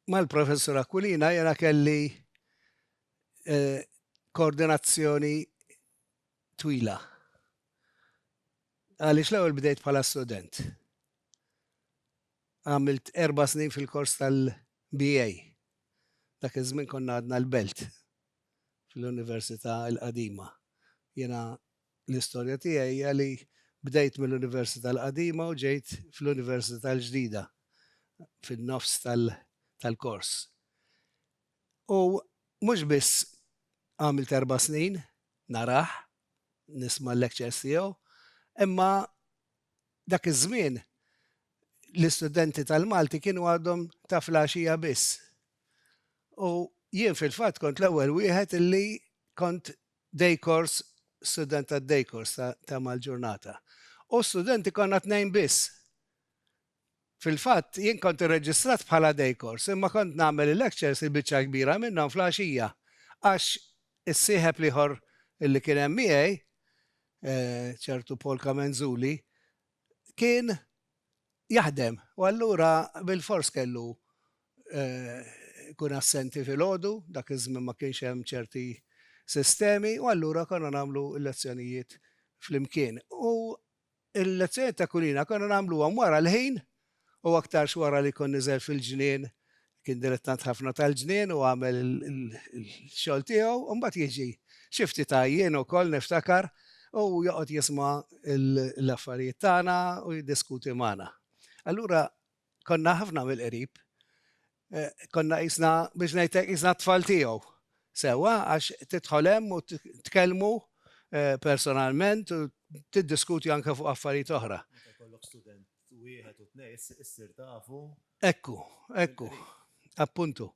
Mal-Professur Aquilina jiena kelli eh, koordinazzjoni twila. Għaliex l-ewwel bdejt bħala student. Għamilt erba' snin fil-kors tal-BA. Dak iż-żmien konna għadna l-Belt fl-Università l-Qadima. Jiena l-istorja tiegħi hija li bdejt mill-Università l-Qadima u ġejt fl-Università l-Ġdida fin-nofs tal-kors. U mhux biss għamilt erba' snin, narah, nisma' l-lectures tiegħu, imma Dak iż-żmien l-istudenti tal-Malti kienu għadhom ta' flaxija biss. U jien fil-fatt kont l-ewwel wieħed illi kont day course, student tad-day course ta' mal-ġurnata. U studenti konna tnejn biss. Fil-fatt, jien kont irreġistrat bħala day course imma kont nagħmel il-lectures, il-biċċa l-kbira minnhom fl-għaxija għax is-sieħeb l-ieħor li kien hemm miegħi, ċertu Paul Camenzuli, kien jaħdem u allura bilfors kellu jkun assenti filgħodu, dak iż-żmien ma kienx hemm ċerti sistemi u allura konna nagħmlu l-lezzjonijiet flimkien. U Il-lezzjonijiet ta' Kulina konna nagħmluhom wara l-ħin u aktarx wara li jkun niżel fil-ġnien, kien dilettant ħafna tal-ġnien u għamel il-xogħol tiegħu, u mbagħad jiġi xi ftit għajjien ukoll niftakar u joqgħod jisma' l-affarijiet tagħna u jiddiskuti magħna. Allura konna ħafna mill-qrib Eh, konna jisna, biex ngħidlek jisna tfal tiegħu. Sewa, għax tidħol hemm u tkellmu eh, personalment u tiddiskuti anke fuq affarijiet oħra. Ekku, ekku, appuntu.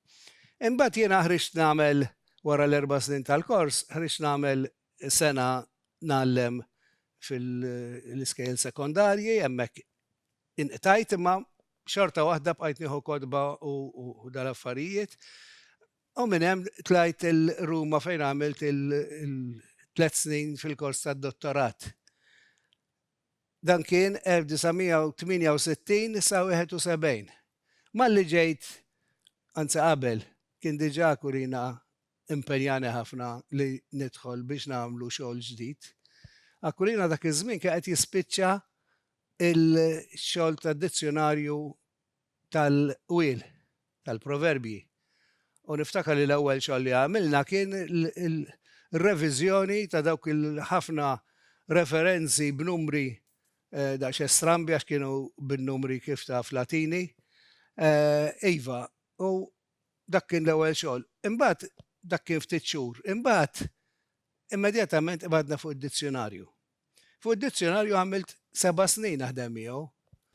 Imbagħad jiena ħriġt nagħmel wara l-erba' snin tal-kors, ħriġt nagħmel sena ngħallem fil-iskejjel sekondarji, hemmhekk inqtajt imma xorta waħda bqajt nieħu kodba u dal-affarijiet. U minn hemm tlajt il-Ruma fejn għamilt il-tlet snin fil-kors tad-dottorat. Dan kien 1968 sa 71. Malli ġejt, anzi qabel, kien diġà Kurina impenjani ħafna li nidħol biex nagħmlu xogħol ġdid. Aquilina dak iż-żmien kien qed jispiċċa l-xogħol tad-dizzjunarju tal-qwiel, tal-proverbji. U niftakar li l-ewwel xogħol li għamilna kien reviżjoni ta' dawk il-ħafna referenzi b'numri eh, daqs estrambi għax kienu bin-numri kif ta' flatini. Eh, iva, u Dak kien l-ewwel xogħol. Imbagħad, dak kien ftit xhur. Imbagħad, immedjatament qbadna fuq id-dizzjunarju. Fuq id-dizzjunarju għamilt seba' snin naħdem miegħu.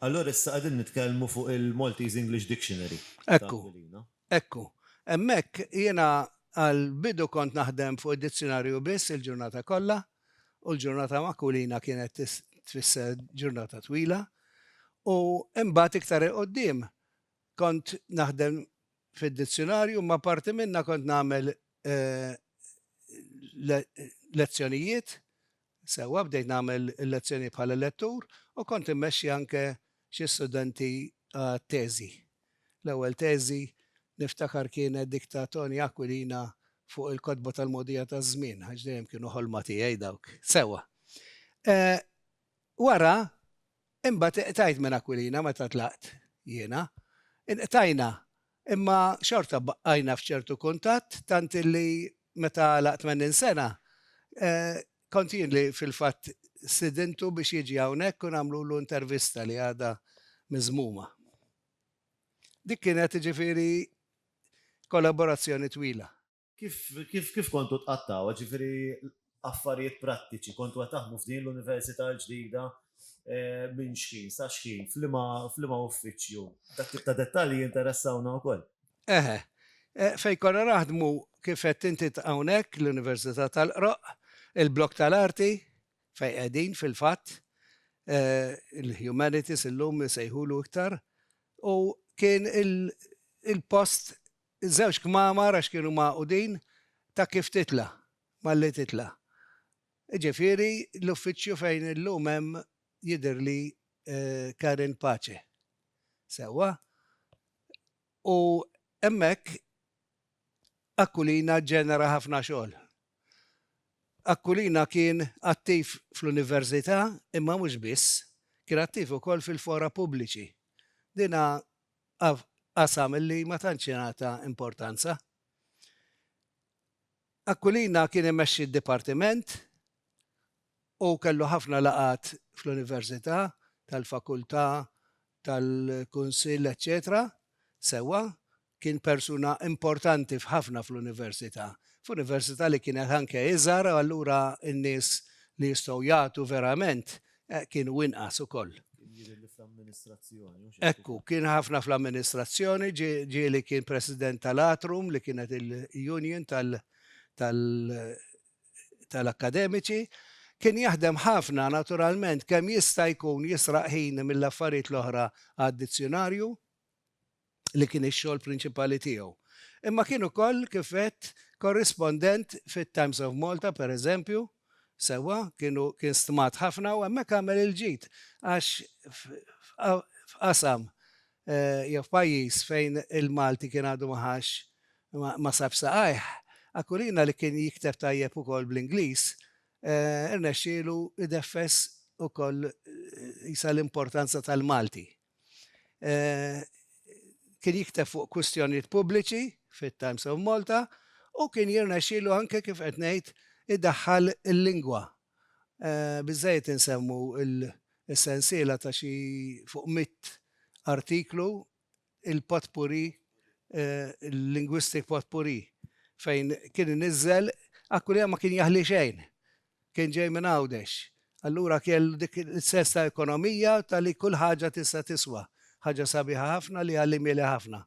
Allura issa qegħdin nitkellmu fuq il-Maltese English Dictionary ta' Aquilina. Ekku. Hemmhekk jiena għall-bidu kont naħdem fuq id-dizzjunarju biss il-ġurnata kollha, u l-ġurnata ma' Aquilina kienet tfisser ġurnata twila. U imbagħad iktar 'il quddiem Kont naħdem fid-dizzjunarju imma apparti minnha kont nagħmel lezzjonijiet sewwa, bdejt nagħmel lezzjonijiet bħala lettur u kont immexxi anke xi studenti għat-teżi. L-ewwel teżi niftakar kienet dik ta' Toni Aquilina fuq il-kotba tal-mogħdija taż-żmien, għax dejjem kienu ħolma tiegħi dawk. Sewwa. Wara Imbagħad iqtajt minn Aquilina meta tlaqt jiena. Inqtajna, imma xorta bqajna f'ċertu kuntatt tant illi meta għalaq tmenin sena, kont jien li fil-fatt stidintu biex jiġi hawnhekk u nagħmlulu intervista li għadha miżmuma. Dik kienet, jiġifieri, kollaborazzjoni twila. Kif, kif, kif kontu tqattgħu? Ġifieri affarijiet prattiċi, kontu qed taħdmu f'din l-università l-ġdida eh, minn xħin sa xħin, f'liema uffiċċju. Dak tip ta' dettalji jinteressawna wkoll. Eħe, eh, fej konna naħdmu kif qed inti hawnhekk l-Università tal-Qroq, il-blok tal-arti fej qegħdin fil-fatt eh, il-humanities illum sejħulu iktar u kien il-post Iż-żewġ kmamar għax kienu magħqudin ta' kif titla', malli titla'. Jiġifieri l-uffiċċju fejn illum hemm jidhirli Karen Pace. Sewwa. U hemmhekk Aquilina ġġenera ħafna xogħol. Aquilina kien attiv fl-Università imma mhux biss, kien attiv ukoll fil-fora pubbliċi. Din qasam li ma tantx ingħata importanza. Aquilina kien imexxi d-dipartiment u kellu ħafna laqgħat fl-Università, tal-Fakultà, tal-Kunsill, eċċetera Sewwa, kien persuna importanti f'ħafna fl-Università, f'Università li kienet anke iżgħar u allura n-nies li jistgħu jagħtu verament Eh, kien u inqas ukoll. Ekku, kien ħafna fl-amministrazzjoni, ġi li kien president tal-Atrum, li kienet il-union tal-akademiċi, kien jaħdem ħafna naturalment kemm jista' jkun jisraq ħin mill-affarijiet l-oħra għad-dizzjonarju, li kien ix-xogħol prinċipali tiegħu. Imma kien ukoll, kif għedt, korrispondent fit-Times of Malta, pereżempju, sewwa, kienu, kien stmat ħafna u hemmhekk għamel il-ġid għax f'qasam jew f'pajjiż fejn il-Malti kien għadu ma ħax ma sabx saqajh, Aquilina li kien jikteb tajjeb ukoll bl-Ingliż, irnexxielu ideffes ukoll qisha l-importanza tal-Malti. Kien jikteb fuq kwistjonijiet pubbliċi fit-Times of Malta u kien jirnexxielu anke kif qed ngħid idaħħal il-lingwa. Biżżejjed insemmu l-sensiela ta' xi fuq mitt artiklu, il-potpourri, il-linguistic potpourri, fejn kien iniżżel, akkwilina ma kien jaħli xejn Kien ġej minn Għawdex. Allura kellu dik is-sens ta' ekonomija ta' li kull ħaġa tista' tiswa. Ħaġa sabiħa ħafna li għallimieli ħafna.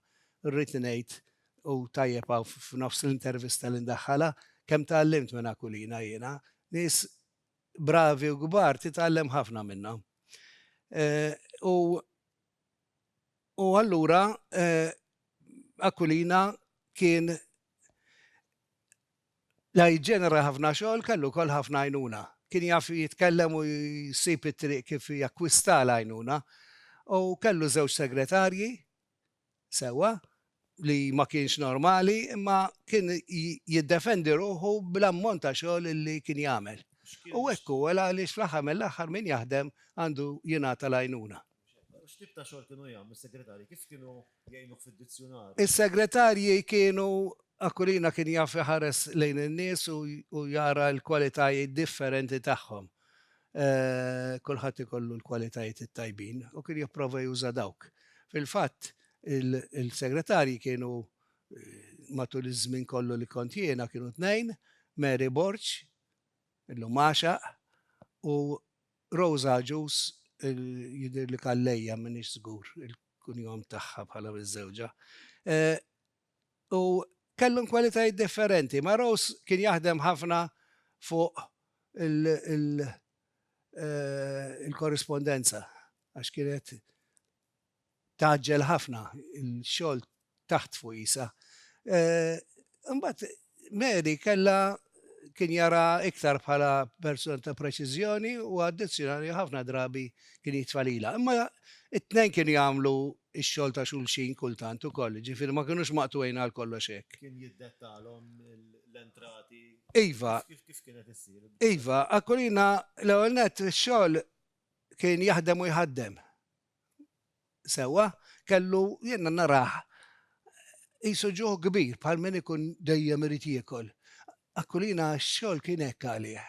Rrid ngħid, u tajjeb hawn f'nofs l-intervista li ndaħħalha, kemm tgħallimt minn Aquilina jiena. Nies bravi u kbar titgħallem ħafna minnhom. U u allura Aquilina kien La jġenera ħafna xogħol, kellu wkoll ħafna għajnuna. Kien jaf jitkellem u jsib it-triq kif jakkwista l-għajnuna. U kellu żewġ segretarji, sewwa, li ma kienx normali, imma kien jiddefendi ruħu bl-ammont ta' xogħol li kien jagħmel. U hekk hu, għaliex fl-aħħar mill-aħħar min jaħdem għandu jingħata l-għajnuna. X'tip ta' xogħol kienu jagħmlu s-segretarji? Kif kienu jgħinuh fid-dizzjunarju? Is-segretarji kienu, Aquilina kien jaf iħares lejn in-nies u jara l-kwalitajiet differenti tagħhom. Kulħadd ikollu l-kwalitajiet it-tajbin u kien jipprova juża dawk. Fil-fatt, il-segretarji kienu, matul iż-żmien kollu li kont jiena, kienu tnejn, Mary Borg, illum għaxaq, u Rosa Agius, jidhirli Calleja, m'iniex żgur il-kunjom tagħha bħala miżżewġa, u kellhom kwalitajiet differenti. Ma' Rose kien jaħdem ħafna fuq il-korrispondenza għax kienet Tgħaġġel ħafna l-xogħol taħt fwisa. Imbagħad Mary kellha kien jaraha iktar bħala persuna ta' preċiżjoni u addizzjonali ħafna drabi kien jitfa' lilha. Imma t-tnejn kienu jagħmlu x-xogħol ta' xulxin kultant ukoll, jiġifieri ma kinux maqtugħin għal kollox hekk. Kien jiddettalhom l-entrati? Iva. Kif kienet issir? Iva, Aquilina l-ewwel nett ix-xogħol kien jaħdem u jħaddem. sewwa, kellu, jiena narah qisu ġuħ kbir bħal min ikun dejjem irid jiekol. Aquilina x-xogħol kien hekk għalih.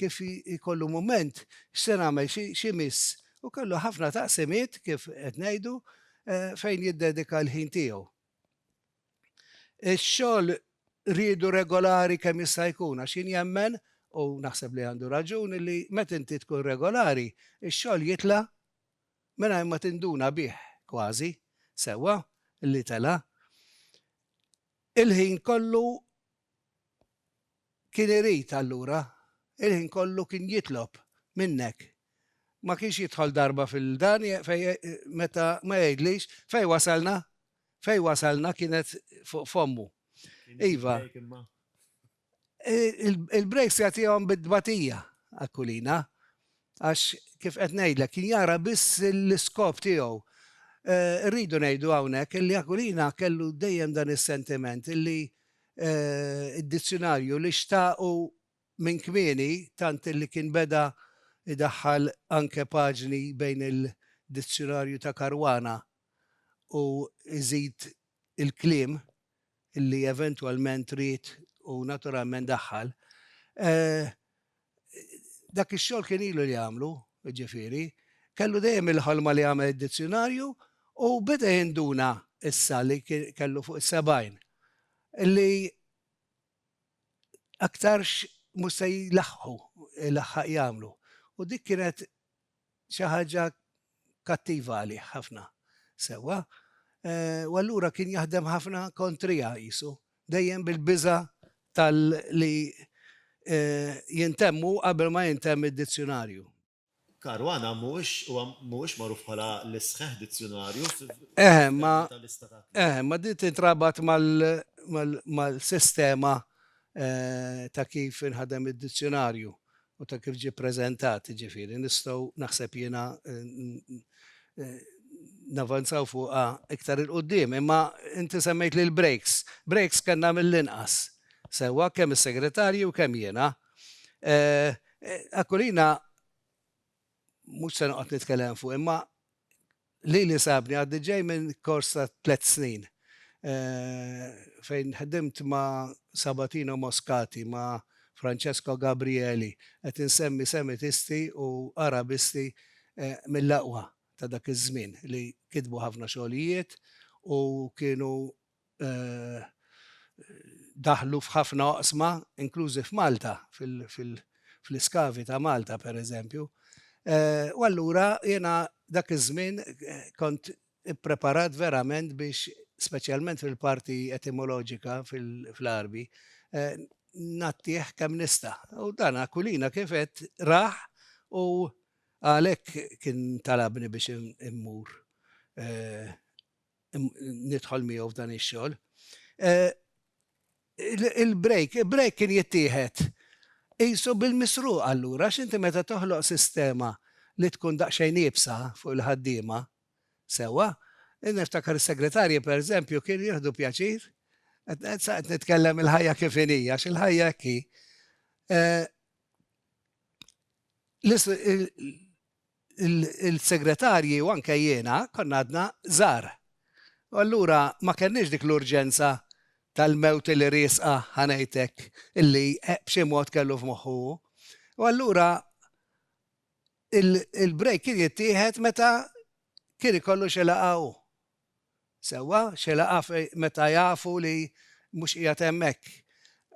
Kif jkollu mument, x'se nagħmel, x'imiss? U kellu ħafna taqsimiet, kif qed ngħidu, fejn jiddedika l-ħin tiegħu. Ix-xogħol riedu regolari kemm jista' jkun għax jien jemmen, u naħseb li għandu raġun, li meta inti tkun regolari, ix-xogħol jitla' mingħajr ma tinduna bih kważi sewwa li tela'. Il-ħin kollu kien irid allura, il-ħin kollu kien jitlob minnek. Ma kienx jidħol darba fil-dan meta ma jgħidlix fejn wasalna? Fejn wasalna kienet fuq fommu. Iva. Il-breaks jagħtihom bit-tbatija Aquilina għax kif qed ngħidlek kien jara biss l-iskop tiegħu. Eh, rridu ngħidu hawnhekk illi Aquilina kellu dejjem dan is-sentiment illi eh, id-dizzjonarju li xtaqu minn kmieni tant illi kien beda idaħħal anke paġni bejn il-dizzjonarju ta' Karwana u iżid il-klim li eventwalment ried u naturalment daħħal, dak ix-xogħol kien ilu li jagħmlu, jiġifieri, kellu dejjem il-ħolma li jagħmel id-dizzjunarju u beda jinduna issa li kellu fuq is-70 li aktarx mhux se jlaħħqu jlaħħaq jagħmlu u dik kienet xi ħaġa kattiva għalih ħafna. Sewwa. U allura kien jaħdem ħafna kontriha qisu, dejjem bil-biża' tal-li jintemm hu qabel ma jintemm id-dizzjunarju. Caruana mhuwiex huwa mhuwiex magħruf bħala l-isħħ dizzjunarju f'termini ta' lista ta' kliem. Eħe, ma din tintrabat mal-sistema ta' kif inħadem id-dizzjunarju. u ta' kif ġie preżentat, ġifieri nistgħu naħseb jiena navanzaw fuqha iktar il-qudiem, imma inti semmejt li l-breaks. Breaks kellna mill-inqas. Sewwa kemm is-segretarji u kemm jiena. Aquilina mhux se noqgħod nitkellem fuq imma Lili sabni għadni ġej minn kors ta' tliet snin fejn ħdimt ma' Sabatino Moscati, ma' Francesco Gabrieli, qed insemmi Semitisti u Arabisti mill-aqwa ta' dak iż-żmien li kitbu ħafna xogħlijiet u kienu daħlu f'ħafna oqsma, inklużi f'Malta, fl-iskavi ta' Malta pereżempju. U allura jiena dak iż-żmien kont ippreparat verament biex, speċjalment fil-parti etimoloġika fl-Għarbi, ngħattih kemm nista'. U dan Aquilina kif għedt rah u għalhekk kien talabni biex immur nidħol miegħu f'dan ix-xogħol. Il-break, il-break kien jittieħed qisu bil-misruq allura għax inti meta toħloq sistema li tkun daqsxejn iebsa fuq il-ħaddiema, sewwa, niftakar is-segretarji pereżempju kienu jieħdu pjaċir, qed nitkellem il-ħajja kif inhi għax il-ħajja hekk hi. il-segretarji u anke jiena konna għadna żgħar. U allura ma kellniex dik l-urġenza tal-mewt illi riesqa, ħa ngħid hekk, illi b'xi mod kellu f'moħħu hu. U allura il-break kien jittieħed meta kien ikollu xi laqgħa hu. Sewwa, xi laqgħa meta jafu li mhux qiegħed hemmhekk.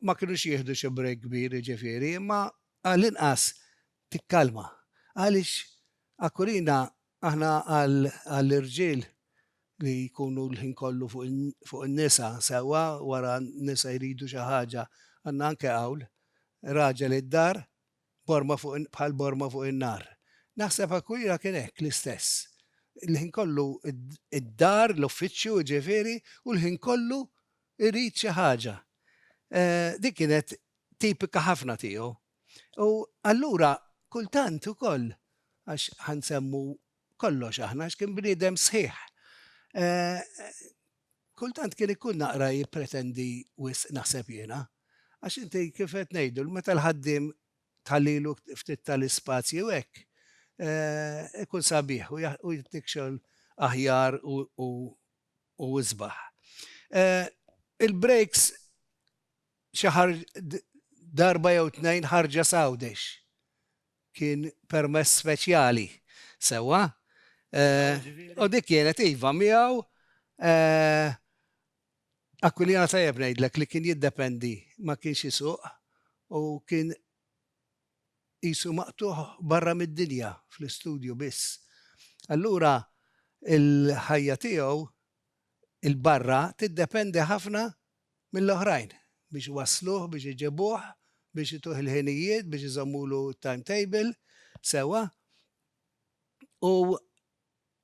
Ma kinux jieħdu xi break kbir jiġifieri, imma għall-inqas tikkalma. Għaliex akkurina aħna għall-irġiel li jkunu l-ħin kollu fuq in-nisa, sewwa wara n-nisa jridu xi ħaġa, għandna anke qawl, Raġel id-dar borma fuq bħal borma fuq in-nar. Naħseb akkurina kien hekk l-istess. Il-ħin kollu id-dar, l-uffiċċju jiġifieri, u l-ħin kollu jrid xi ħaġa. Din kienet tipika ħafna tiegħu. U allura kultant ukoll, għax ħa nsemmu kollox aħna, għax kien bniedem sħiħ, kultant kien ikun naqra jippretendi wisq naħseb jiena. Għax inti kif qed ngħidu, meta l-ħaddiem ta' lilu ftit ta' l-ispazji u hekk, ikun sabiħ u jtik xogħol aħjar u isbaħ. Il-breaks Xi darba jew tnejn ħarġet Għawdex. Kien permess speċjali. Sewwa? U dik kienet iva miegħu Aquilina tajjeb ngħidlek li kien jiddependi ma kienx isuq u kien qisu maqtugħ barra mid-dinja fl-istudju biss. Allura l-ħajja tiegħu 'l barra tiddependi ħafna mill-oħrajn biex iwassluh, biex iġibuh, biex ituh il-ħinijiet, biex iżommulu t-timetable sewwa. U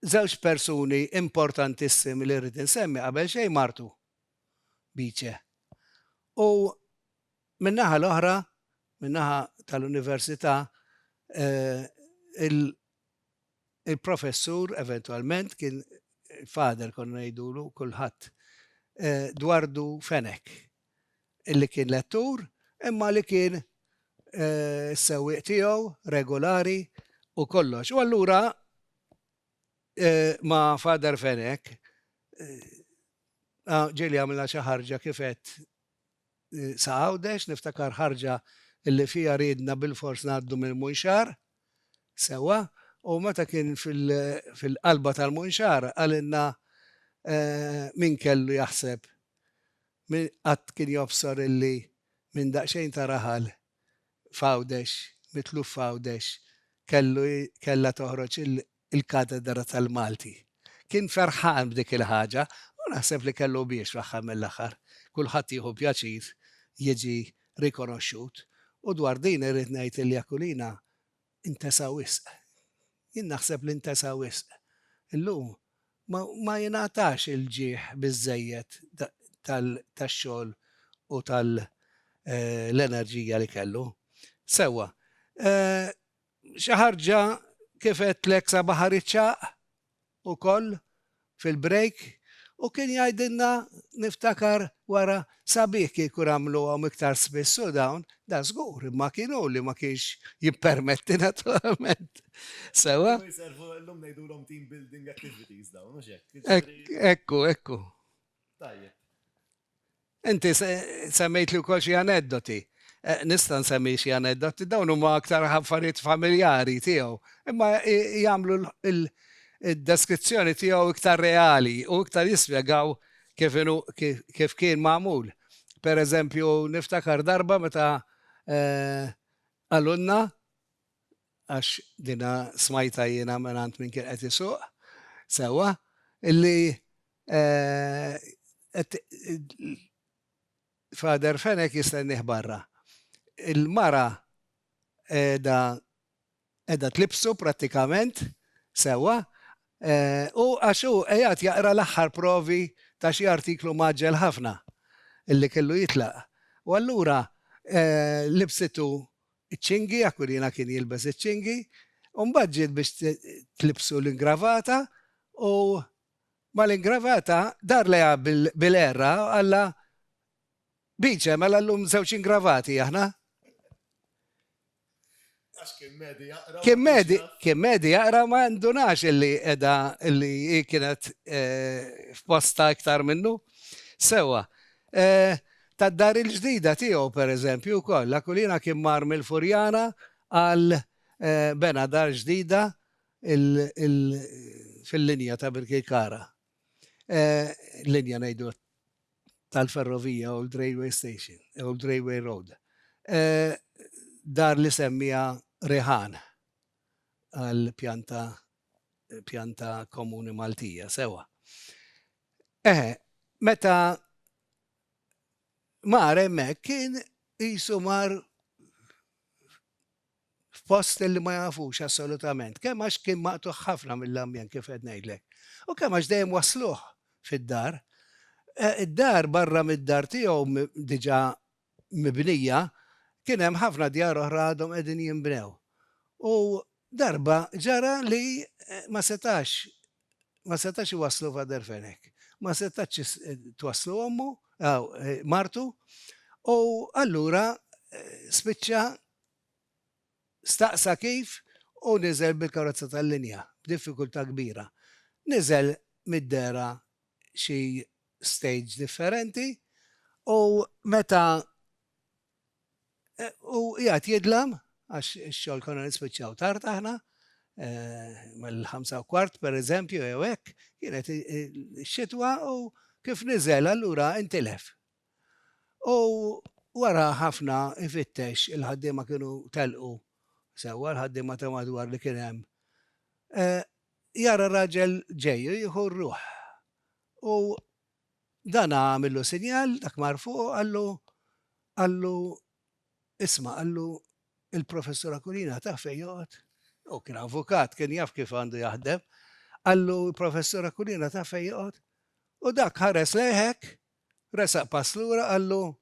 żewġ persuni importantissimi li rrid insemmi qabel xejn martu Bice u min-naħa l-oħra, min-naħa tal-Università, Il-professur eventwalment kien father konna ngħidulu kulħadd Dwardu Fenech illi kien lettur imma li kien is-sewwieq tiegħu regulari u kollox u allura ma' father Fenech ġieli għamilna xi ħarġa kif għedt sa Għawdex, niftakar ħarġa li fiha riedna bilfors ngħaddu mill-Munxar, sewwa, u meta kien fil-qalba tal-Munxar qalilna min kellu jaħseb, min qatt kien jobsor illi minn daqsxejn ta' raħal f'Għawdex, mitluf f'Għawdex, kellu kellha toħroġ il-katedra tal-Malti. Kien ferħan b'dik il-ħaġa u naħseb li kellu biex fl-aħħar mill-aħħar. Kulħadd jieħu pjaċir jiġi rikonoxxut u dwar din irrid ngħid li Aquilina Intesa wisq. Jien naħseb li ntesa wisq. Illum ma jingħatax il-ġieħ biżżejjed tax-xogħol u tal-enerġija li kellu. Sewwa. Xi ħarġa kif għedtlek sabaħha riċċaq? ukoll fil-break u kien jgħidilna niftakar wara sabiħ kieku nagħmluhom iktar spiss u dawn, dan żgur, imma kien hu li ma kienx jippermetti naturalment. Sewwa? Kienu jservu, illum ngħidulhom team building activities dawn, mhux hekk? Hekk, hekk hu, hekk hu. Tajjeb. Inti semmejtli wkoll xi aneddoti. Nista' nsemmi xi aneddoti, dawn huma aktar affarijiet familjari tiegħu, imma jagħmlu d-deskrizzjoni tiegħu iktar reali u iktar jispjegaw kif inhu kif kien magħmul. Per eżempju, niftakar darba meta qalulna, għax dinha smajtha jiena mingħand min kien qed isuq sewwa, li Father Fenech jistennieh barra. Il-mara qiegħda qiegħda tlibsu prattikament sewwa u għax hu qiegħed jaqra l-aħħar provi ta' xi artiklu mgħaġġel ħafna li kellu jitlaq. U allura libsitu iċ-ċingi, Aquilina kien jilbes iċ-ċingi, u mbagħad ġiet biex tlibsu l-ingravata u mal-ingravata dar lejha bil-qerra u qallha, Biċe, mela llum żewġ ingravati aħna. Għax kien medi jaqra. Kien medi, kien medi jaqra ma ndunax illi edha illi kienet eh, f'posta iktar minnu. Sewa, tad-dar il-ġdida tiegħu, pereżempju, wkoll. Aquilina kien mar mill-Furjana għal bena dar ġdida fil-linja ta' Birkirkara. Linja ngħidu tal-ferrovija, Old Railway Station, Old Railway Road. Dar li semmiha Riħan għall-pjanta komuni Maltija, sewwa. Eħe, meta mar hemmhekk kien qisu mar f'post li ma jafux assolutament, kemm għax kien maqtuħ ħafna mill-ambjent kif qed ngħidlek. U kemm għax dejjem wasluh fid-dar. Eh, id-dar barra mid-dar tiegħu diġà mibnija, kien hemm ħafna djar oħra għadhom qegħdin jinbnew. U darba ġara li ma setax ma setax iwasslu Fader Fenek. Ma setax twasslu ommu, martu, u allura spiċċa Staqsa kif u niżel bil-karozza tal-linja, b'diffikultà kbira. Niżel mid-dehra xi stage differenti u meta u qiegħed jidlam, għax ix-xogħol konna nispiċċaw tard aħna, mal-ħamsa u kwart pereżempju jew hekk, kienet ix-xitwa u kif niżel allura intilef. U wara ħafna ifittex, il-ħaddiema kienu telqu, sewwa l-ħaddiema ta' madwar li kien hemm, jara raġel ġej u jieħu r-ruħ. U dana għamillu sinjal, dak mar fuq u qallu, qallu, isma', qallu, il-Professur Aquilina taf fejn joqgħod? Hu kien avukat, kien jaf kif għandu jaħdem. Qallu, il-Professur Aquilina taf fejn joqgħod? U dak ħares lejh hekk, Resaq pass lura, qallu,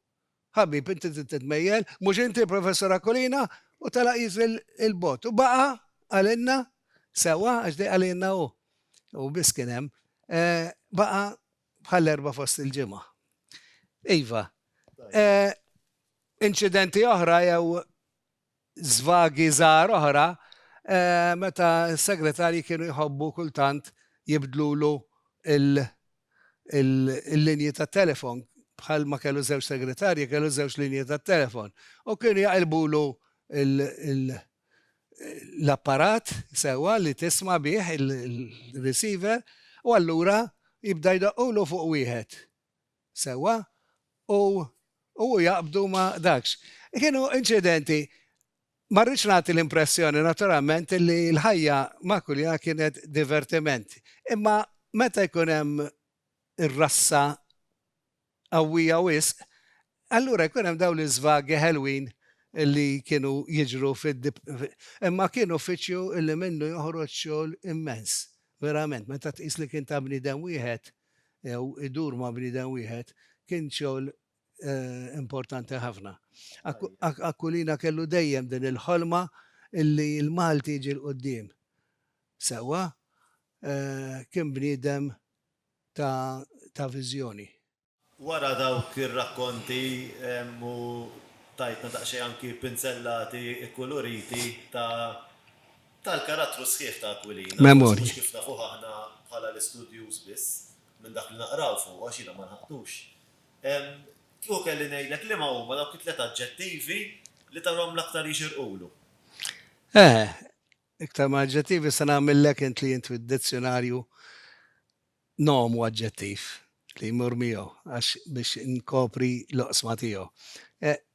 Ħabib, inti trid titmejjel, mhux inti Professur Aquilina? u telaq jiġri 'l bogħod. U baqa' għalina, sewwa għax dejqa lilna hu, hu biss kien hemm, baqa' bħall-Erbgħa fost il-Ġimgħa. Iva. Inċidenti oħra jew żvagi żgħar oħra meta s-segretarji kienu jħobbu kultant jibdlulu l-linji tat-telefon, bħal ma kellu żewġ segretarji kellu żewġ linji tat-telefon u kienu jaqilbulu l-apparat sewwa li tisma' bih il-receiver u allura jibda jdoqqulu fuq wieħed. sewwa u u jaqbdu ma' dakx. Kienu inċidenti, ma rridx nagħti l-impressjoni naturalment li l-ħajja ma' Kulja kienet divertiment, imma meta jkun hemm ir-rassa qawwija wisq, allura jkun hemm dawn l-iżvagi ħelwin li kienu jiġru imma kien uffiċċju li minnu joħroġ xogħol immens, verament, meta tqis li kien ta' bniedem wieħed. jew idur ma' bniedem wieħed, kien xogħol importanti ħafna. Aquilina kellu dejjem din il-ħolma illi l-Malti jiġi 'l quddiem. Sewwa, kien bniedem ta' viżjoni. Wara dawk ir-rakkonti u tajtna daqsxejn anki pinzellati kkuluriti ta' tal-karattru sħiħ ta' Aquilina, forsi mhux kif nafuh aħna bħala l-istudjuż biss, minn dak li naqraw fuqu, għax jiena ma lħaqtux. Kieku kelli ngħidlek liema huma dawk it-tliet aġġettivi li tarahom l-aktar jixirqulu? Eh, iktar ma' aġġettivi se nagħmillek int li int fid-dizzjunarju nom u aġġettiv li jmur miegħu għax biex nkopri l-oqsma tiegħu.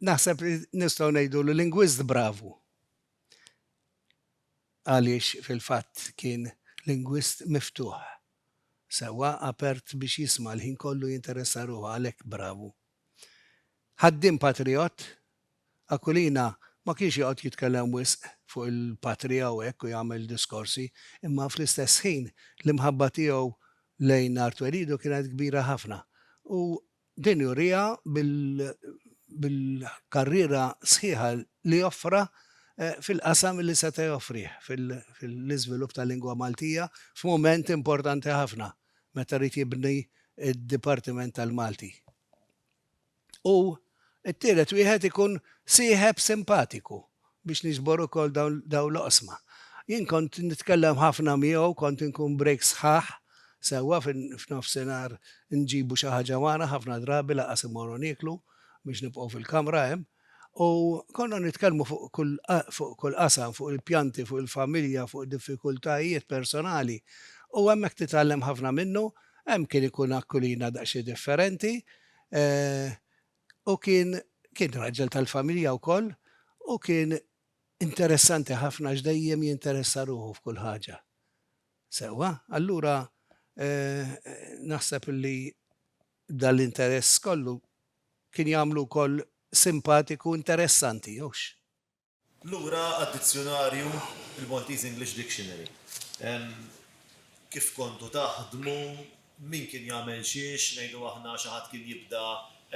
Naħseb li nistgħu ngħidu li lingwist bravu. għaliex fil-fatt kien lingwist miftuħ sewwa, apert biex jisma' l-ħin kollu jinteressa ruħu għalhekk bravu. Ħaddiem patrijott, Aquilina ma kienx joqgħod jitkellem wisq fuq il-patrija u hekk u jagħmel diskorsi, imma fl-istess ħin l-imħabba tiegħu lejn Artuerido kienet kbira ħafna u Din juriha bil-karriera sħiħa li offra fil-qasam li seta' joffrih fil-iżvilupp tal-lingwa Maltija f'mument importanti ħafna meta ried jibni d-Dipartiment tal-Malti. U t-tielet wieħed ikun sieħeb simpatiku biex niġbor ukoll dawn l-oqsma. Jien kont nitkellem ħafna miegħu, kont inkun breaks sħaħ sewwa f'nofsinhar nġibu xi ħaġa magħna, ħafna drabi lanqas immorru nieklu biex nibqgħu fil-kamra hemm. U konna nitkellmu fuq kull qasam, fuq il-pjanti, fuq il-familja, fuq id-diffikultajiet personali. U hemmhekk titgħallem ħafna minnu, hemm kien ikun akkulina daqsxejn differenti, u kien kien raġel tal-familja wkoll u kien interessanti ħafna għax dejjem jinteressa ruħu f'kull ħaġa. Sewwa, allura eh, naħseb li dal-interess kollu kien jagħmlu wkoll simpatiku interessanti, jewx? Lura għad-dizzjunarju, il-Maltese English Dictionary. Kif kontu taħdmu, min kien jagħmel xiex, ngħidu aħna xi ħadd kien jibda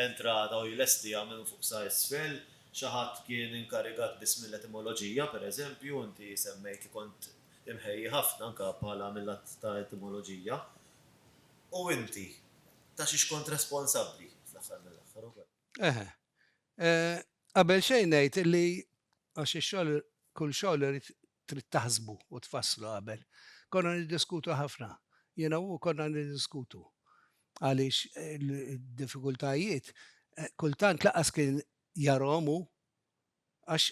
entrata u jlestiha minn fuq sa isfel, xi ħadd kien inkarigat biss mill-etimoloġija, per eżempju, inti semmejt li kont imħejji ħafna anke bħala mil-lat ta' etimoloġija. U inti, ta' xiex kont responsabbli fl-aħħar mill-aħħar ukoll? Eħe. Qabel xejn ngħid li għax ix-xogħol kull xogħol irid trid taħsbu u tfasslu qabel. Konna niddiskutu ħafna. Jiena u hu konna niddiskutu għaliex id-diffikultajiet kultant lanqas kien jarahom hu għax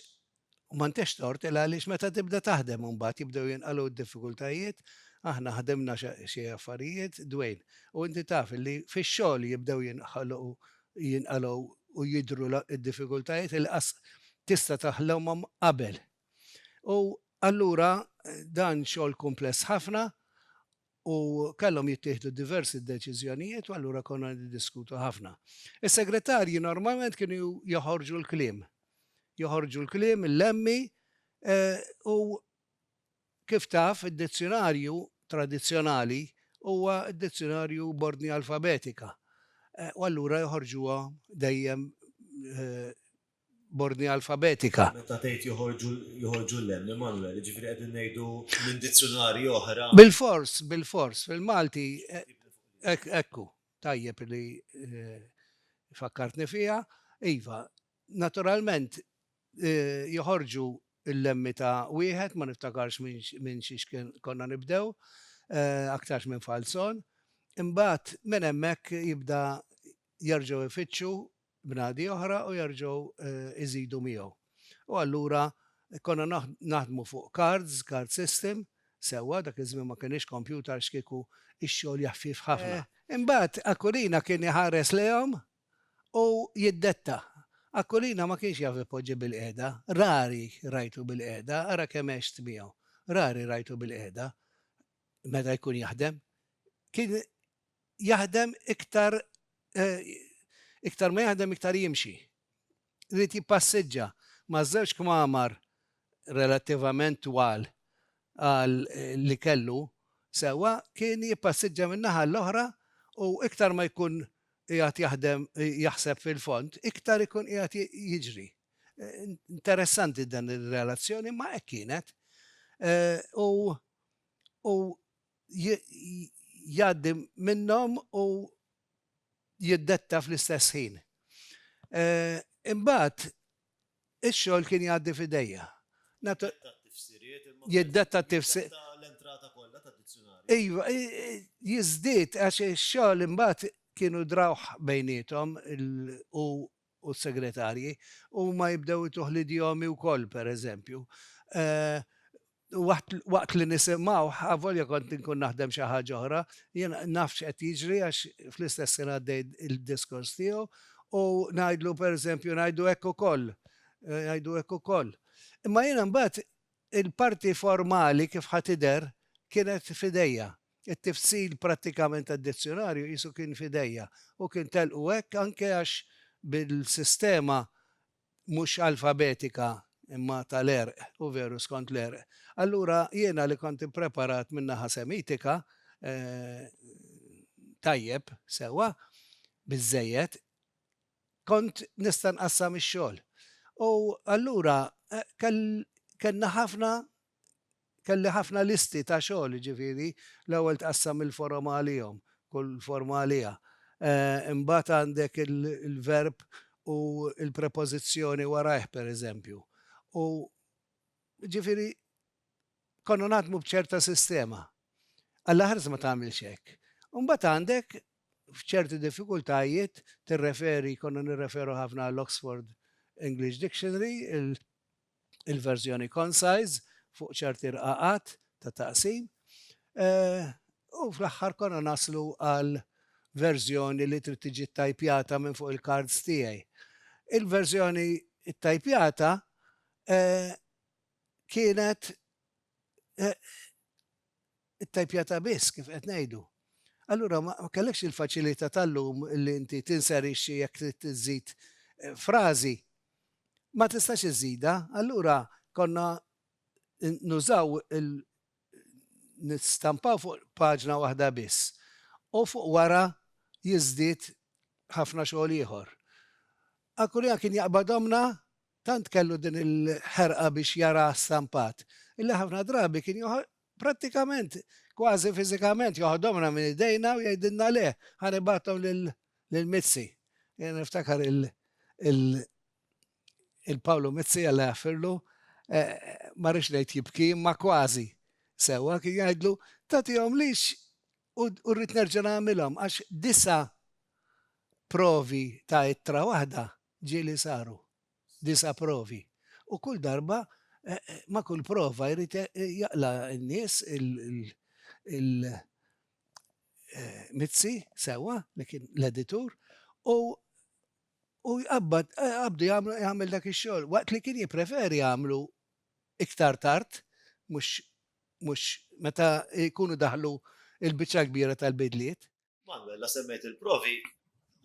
u m'għandekx tort il għaliex meta tibda taħdem u mbagħad jibdew jinqalgħu d-diffikultajiet aħna ħdimna xi affarijiet Dwayne u inti taf li fix-xogħol jibdew jinħolqu jinqalgħu u jidhru d-diffikultajiet inqas tista' taħlhomhom qabel. U allura dan xogħol kumpless ħafna u kellhom jittieħdu diversi deċiżjonijiet u allura konna niddiskutu ħafna. Is-segretarji normalment kienu joħorġu l-kliem. Joħorġu l-kliem, il-lemmi u Kif taf, id-dizzjunarju tradizzjonali huwa d-dizzjunarju b'ordni alfabetika, u allura joħorġuha dejjem b'ordni alfabetika. Meta tgħid joħorġu, joħorġu l-hemm, Immanuel, jiġifieri qegħdin ngħidu minn dizzjunarji oħra? Bilfors, bilfors, fil-Malti, hekk, hekk hu. Tajjeb li fakkartni fiha. Iva, Naturalment, joħorġu l-lemmi ta' wieħed, ma niftakarx minn xiex konna nibdew, aktarx minn Falzon. Imbagħad minn hemmhekk jibda jerġgħu jfittxu bnadi oħra u jerġgħu jżidu miegħu. U allura konna naħdmu fuq cards, card system, sewwa, dak iż-żmien ma kienx kompjutar, x'kieku x-xogħol jaħfif ħafna. Imbagħad Aquilina kien iħares lejhom u jiddetta. Aquilina ma kienx jaf ipoġġi bilqiegħda, rari rajtu bilqiegħda, ara kemm għext miegħu, rari rajtu bilqiegħda meta jkun jaħdem. Kien jaħdem iktar iktar ma jaħdem iktar jimxi. ried jippassiġġa ma' żewġ kmamar relattivament twal għal li kellu sewwa, kien jippassiġġa min-naħa l-oħra u iktar ma jkun qiegħed jaħdem jaħseb fil-fond, iktar ikun qiegħed jiġri. Interessanti dan ir-relazzjoni imma hekk kienet. U u jgħaddi minnhom u jiddetta fl-istess ħin. Imbagħad ix-xogħol kien jgħaddi f'idejja. Jiddetta t-tifsiriet imma. Jiddetta t-tifsir. Jiddetta l-entrata kollha tad-dizzjunarju. Iva, jiżdied għax ix-xogħol imbagħad kienu drawh bejniethom u u s-segretarji, huma jibdew ituh l-idjomi wkoll, pereżempju. Waqt li nisimgħuh, avolja kont inkun naħdem xi ħaġa oħra, jien naf x'qed jiġri għax fl-istess ħin għaddej id-diskors tiegħu u ngħidlu, pereżempju, ngħidu hekk ukoll, ngħidu hekk ukoll. Imma jiena mbagħad il-parti formali kif ħa tidher kienet f'idejja. It-tifsil prattikament tad-dizzjunarju qisu kien f'idejja u kien telqu hekk anke għax bil-sistema mhux alfabetika imma tal-għerq, u veru skont l-għerq. Allura jiena li kont ippreparat min-naħa Semitika, tajjeb, sewwa, biżżejjed, kont nista' nqassam ix-xogħol. U allura kellna ħafna kelli ħafna listi ta' xogħol, jiġifieri l-ewwel tqassam il-forom għalihom, kull forma għaliha. Imbagħad għandek il-verb u l-prepożizzjoni warajh pereżempju. U jiġifieri konna naħdmu b'ċerta sistema. Għall-aħħar ma tagħmilx hekk. U mbagħad għandek f'ċerti diffikultajiet tirreferi, konna nirreferu ħafna għall-Oxford English Dictionary, il-verżjoni concise fuq ċerti rqaqat ta' taqsim u fl-aħħar konna naslu għal verżjoni li trid tiġi ttajpjata minn fuq il-cards tiegħi. Il-verżjoni ttajpjata kienet Ittajpjatha biss, kif qed ngħidu. Allura ma kellekx il-faċilità tal-lum li inti tinserixxi jekk trid iżżid frażi. Ma tistax iżżidha, allura konna nużaw il nistampaw fuq paġna waħda biss u fuq wara jiżdied ħafna xogħol ieħor. Akulja kien jaqbad ommna tant kellu din il-ħerqa biex jaraha stampat illi ħafna drabi kien Prattikament, kważi fiżikament, joħodhomlna minn idejna u jgħidilna le, ħa nibgħathom lil Mizzi. Jiena niftakar il-Pawlu Mizzi, Alla jaħfirlu, ma rridx ngħid jibki, imma kważi sewwa, kien jgħidlu, tagħtihomlix u rrid nerġa' nagħmilhom, għax disa' provi ta' ittra waħda ġieli saru. disa' provi. U kull darba, ma' kull prova jrid jaqla' n-nies il-Mizzi, sewwa, li kien l-editur, u u jqabbad, qabdu jagħmlu, jagħmel dak ix-xogħol, waqt li kien jippreferi jagħmlu iktar tard, mhux mhux meta jkunu daħlu l-biċċa l-kbira tal-bidliet. Manuel, la semmejt il-provi,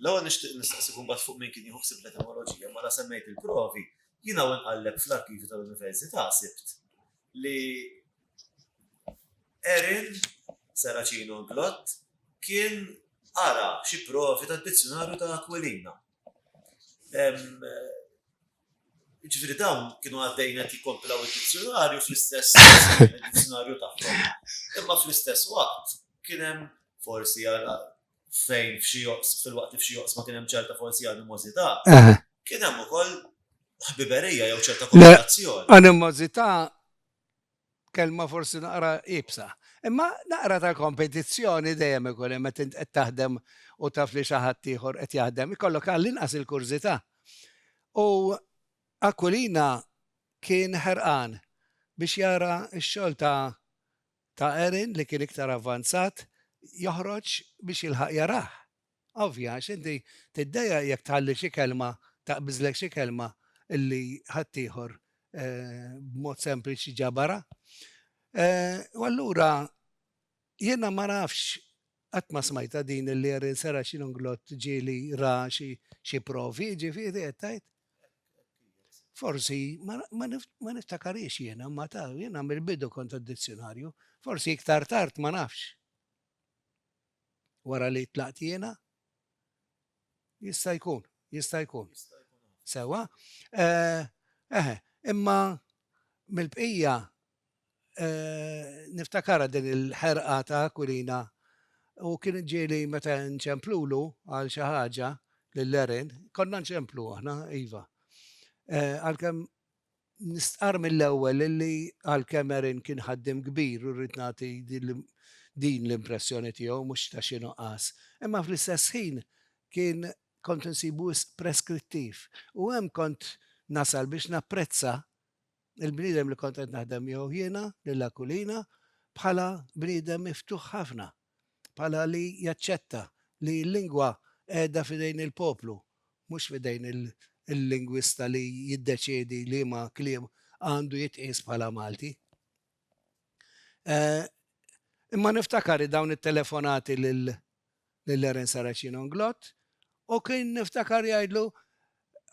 l-għu nishtiq nistaqsi kumbat fuq minn kien jħuħsib l-etimologija, ma la semmejt il-provi, jina għu nqalleb fl-arkivi tal-Università sibt li Erin Saracino Glott kien ara xi provi tad-dizzjonarju ta' Aquilina. Jiġifieri dawn kienu għaddejjin qed jikkompilaw id-dizzjunarju fl-istess id-dizzjunarju tagħhom. Imma fl-istess waqt kien hemm forsi fejn f'xi fil-waqt li f'xi joqsma kien hemm ċerta forsi animożità, kien hemm ukoll ħbiberija jew ċerta kooperazzjoni. Animożità Kelma forsi naqra iebsa. Imma naqra ta' kompetizzjoni dejjem ikun hemm meta int qed taħdem u taf li xi ħadd ieħor qed jaħdem, ikollok għall-inqas il-kurżità. U Aquilina kien ħerqan biex jara x-xogħol ta' ta' Erin li kien iktar avvanzat joħroġ biex jilħaq jarah. Ovvja, għax inti tiddejjaq jekk tħalli xi kelma, taqbiżlek xi kelma li ħaddieħor b'mod sempliċi ġabarha. U allura jiena ma nafx qatt ma smajtha din li Erin Sera Xinunglott ġieli ra xi provi, jiġifieri qed tgħid? Forsi, ma niftakarhiex jiena, imma ta' jiena mill-bidu kont għad-dizzjunarju. Forsi iktar tard, ma nafx. Wara li tlaqt jiena? Jista' jkun, jista' jkun. Sewwa. Eħe, imma mill-bqija niftakarha din il-ħerqa ta' Aquilina u kien ġieli meta nċemplulu għal xi ħaġa lil Erin, konna nċemplu aħna, iva. Għalkemm Nistqarr mill-ewwel illi għalkemm Aaron kien ħaddiem kbir u rrid nagħti din l-impressjoni tiegħu mhux ta' xi nuqqas, imma fl-istess ħin kien kont insibu wisq preskrittiv u hemm kont nasal biex napprezza l-bniedem li kont qed naħdem miegħu jiena, lil Aquilina, bħala bniedem miftuħ ħafna. bħala li jaċċetta li l-lingwa qiegħda f'idejn il-poplu, mhux f'idejn il-lingwista li jiddeċiedi liema kliem għandu jitqies bħala Malti. Imma niftakar dawn it-telefonati lil Eren Saracino Nglott u kien niftakar jgħidlu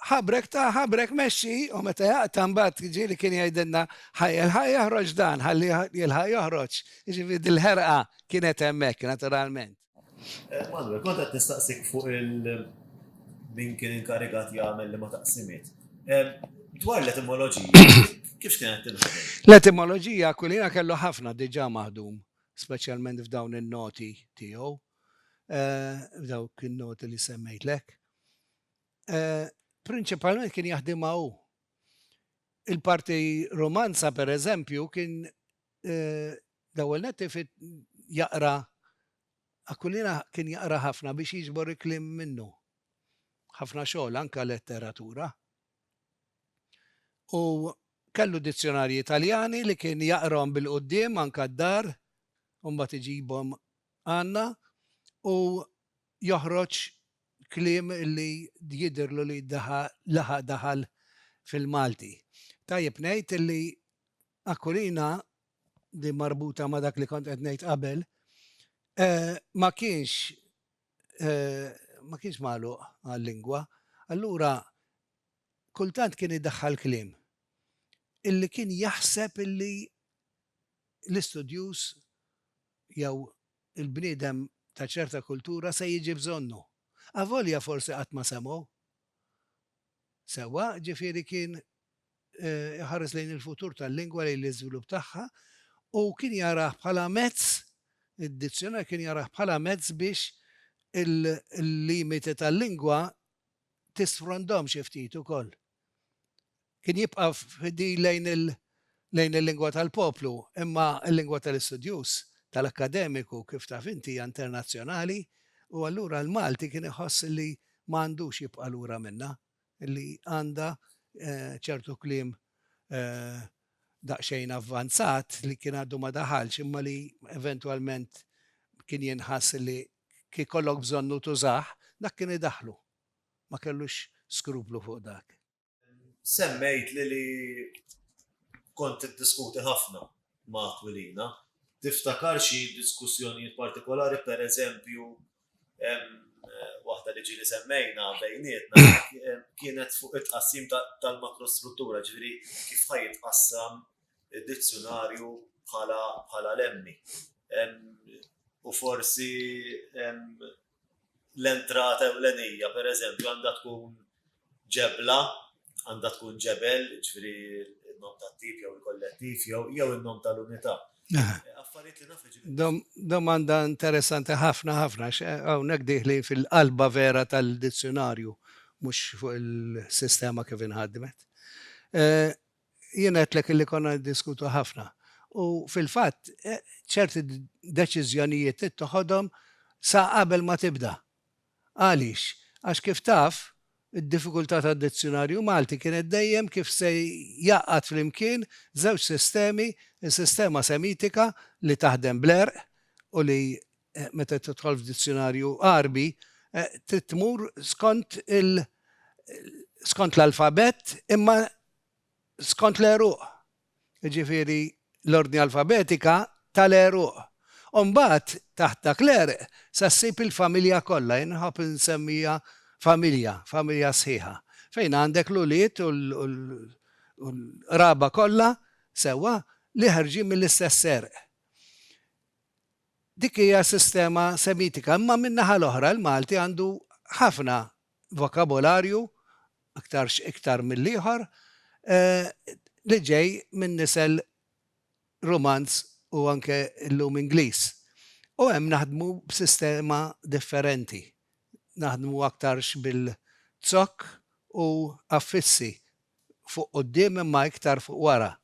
Ħabrek ta' ħabrek mexxi u meta jaqta' mbagħad ġieli kien jgħidilna ħa jilħaq joħroġ dan, ħalli jilħaq joħroġ. Jiġifieri dil-ħerqa kienet hemmhekk naturalment. Manuel, kont qed nistaqsik fuq il-min kien inkarigat jagħmel li ma taqsimiet. Dwar l-etimoloġija, kif kienet tinħadem? L-etimoloġija kulina kellu ħafna diġà maħdum, speċjalment f'dawn in-noti tiegħu, f'dawk in-noti li semmejtlek. eh, prinċipalment kien jaħdimha hu. Il-parti romanza, per eżempju, kien eh, dawel netti fit jaqra Aquilina kien jaqra ħafna biex jiġbor iklim minnu. ħafna xogħol anka letteratura. U kellu dizzjonarji Italjani li kien jaqrom bil-qoddim anka d-dar, mbagħad iġibhom għandna u joħroġ kliem li jidhirlu li laħaq daħal fil-Malti. Tajjeb ngħid li Aquilina, din marbuta ma' dak li kont qed ngħid qabel, ma kienx ma kienx magħluq għal-lingwa, allura kultant kien idaħħal kliem illi kien jaħseb illi l-istudjuż jew il-bniedem ta' ċerta kultura se jiġi bżonnu, avolja forsi qatt ma semgħu. Sewwa, ġifieri kien iħares lejn il-futur tal-lingwa, lejn l-iżvilupp tagħha u kien jarah bħala mezz, id-dizzjonar kien jarah bħala mezz biex il-limiti tal-lingwa tisfrondhom xi ftit ukoll. kien jibqa' fdil lejn il lejn il-lingwa tal-poplu, imma l-lingwa tal-istudjuż, tal-akkademiku, kif taf inti, hija internazzjonali, u allura l-Malti kien iħoss li ma għandux jibqa' lura minnha, li għandha ċertu kliem daqsxejn avvanzat li kien għadu ma daħalx imma li eventwalment kien jinħass li kif ikollok bżonnu tużah, dak kien idaħħlu. ma kellux skruplu fuq dak. Semmejtli li kont tiddiskuti ħafna ma' Aquilina. Tiftakar xi diskussjonijiet partikolari, pereżempju, waħda li ġieli semmejna bejnietna kienet fuq it-tqassim tal-makrostruttura, jiġifieri kif ħa jitqassam id-dizzjunarju bħala lemmi. U forsi l-entrata ewlenija, per eżempju, għandha tkun ġebla, għandha tkun ġebel, ġifri il-nom tat-tip jew il-kollettiv jew jew il-nom tal-unità. Affarijiet li nafu ġibin. Domanda interessanti ħafna ħafna, hawnhekk dieħlin fil-qalba vera tal-dizzjunarju, mhux fuq il-sistema kif inħadmet. Jiena għedtlek illi konna niddiskutu ħafna u fil-fatt ċerti deċiżjonijiet ittoħodhom sa qabel ma tibda. Għaliex? Għax kif taf, id-diffikultà tad-Dizzjunarju Malti kienet dejjem kif se jgħaqqad flimkien żewġ sistemi, is-sistema semitika li taħdem bl-għerq u li meta tidħol f'dizzjunarju Għarbi trid tmur skont il skont l-alfabett imma skont l-għeruq. Jiġifieri l-ordni alfabetika tal-għeruq. U mbagħad taħt dak l-għerq se ssib il-familja kollha, jien nħobb insemmija familja, familja sħiħa, fejn għandek l-ulied u l-qraba kollha sewwa li ħerġin mill-istess għerq. Dik hija sistema Semitika, imma min-naħa l-oħra l-Malti għandu ħafna vokabolarju, aktarx iktar mill-ieħor, li ġej minn nisel Rumanz u anke llum Ingliż. U hemm naħdmu b'sistema differenti, naħdmu aktarx bil-zokk u affissi fuq quddiem imma iktar fuq wara.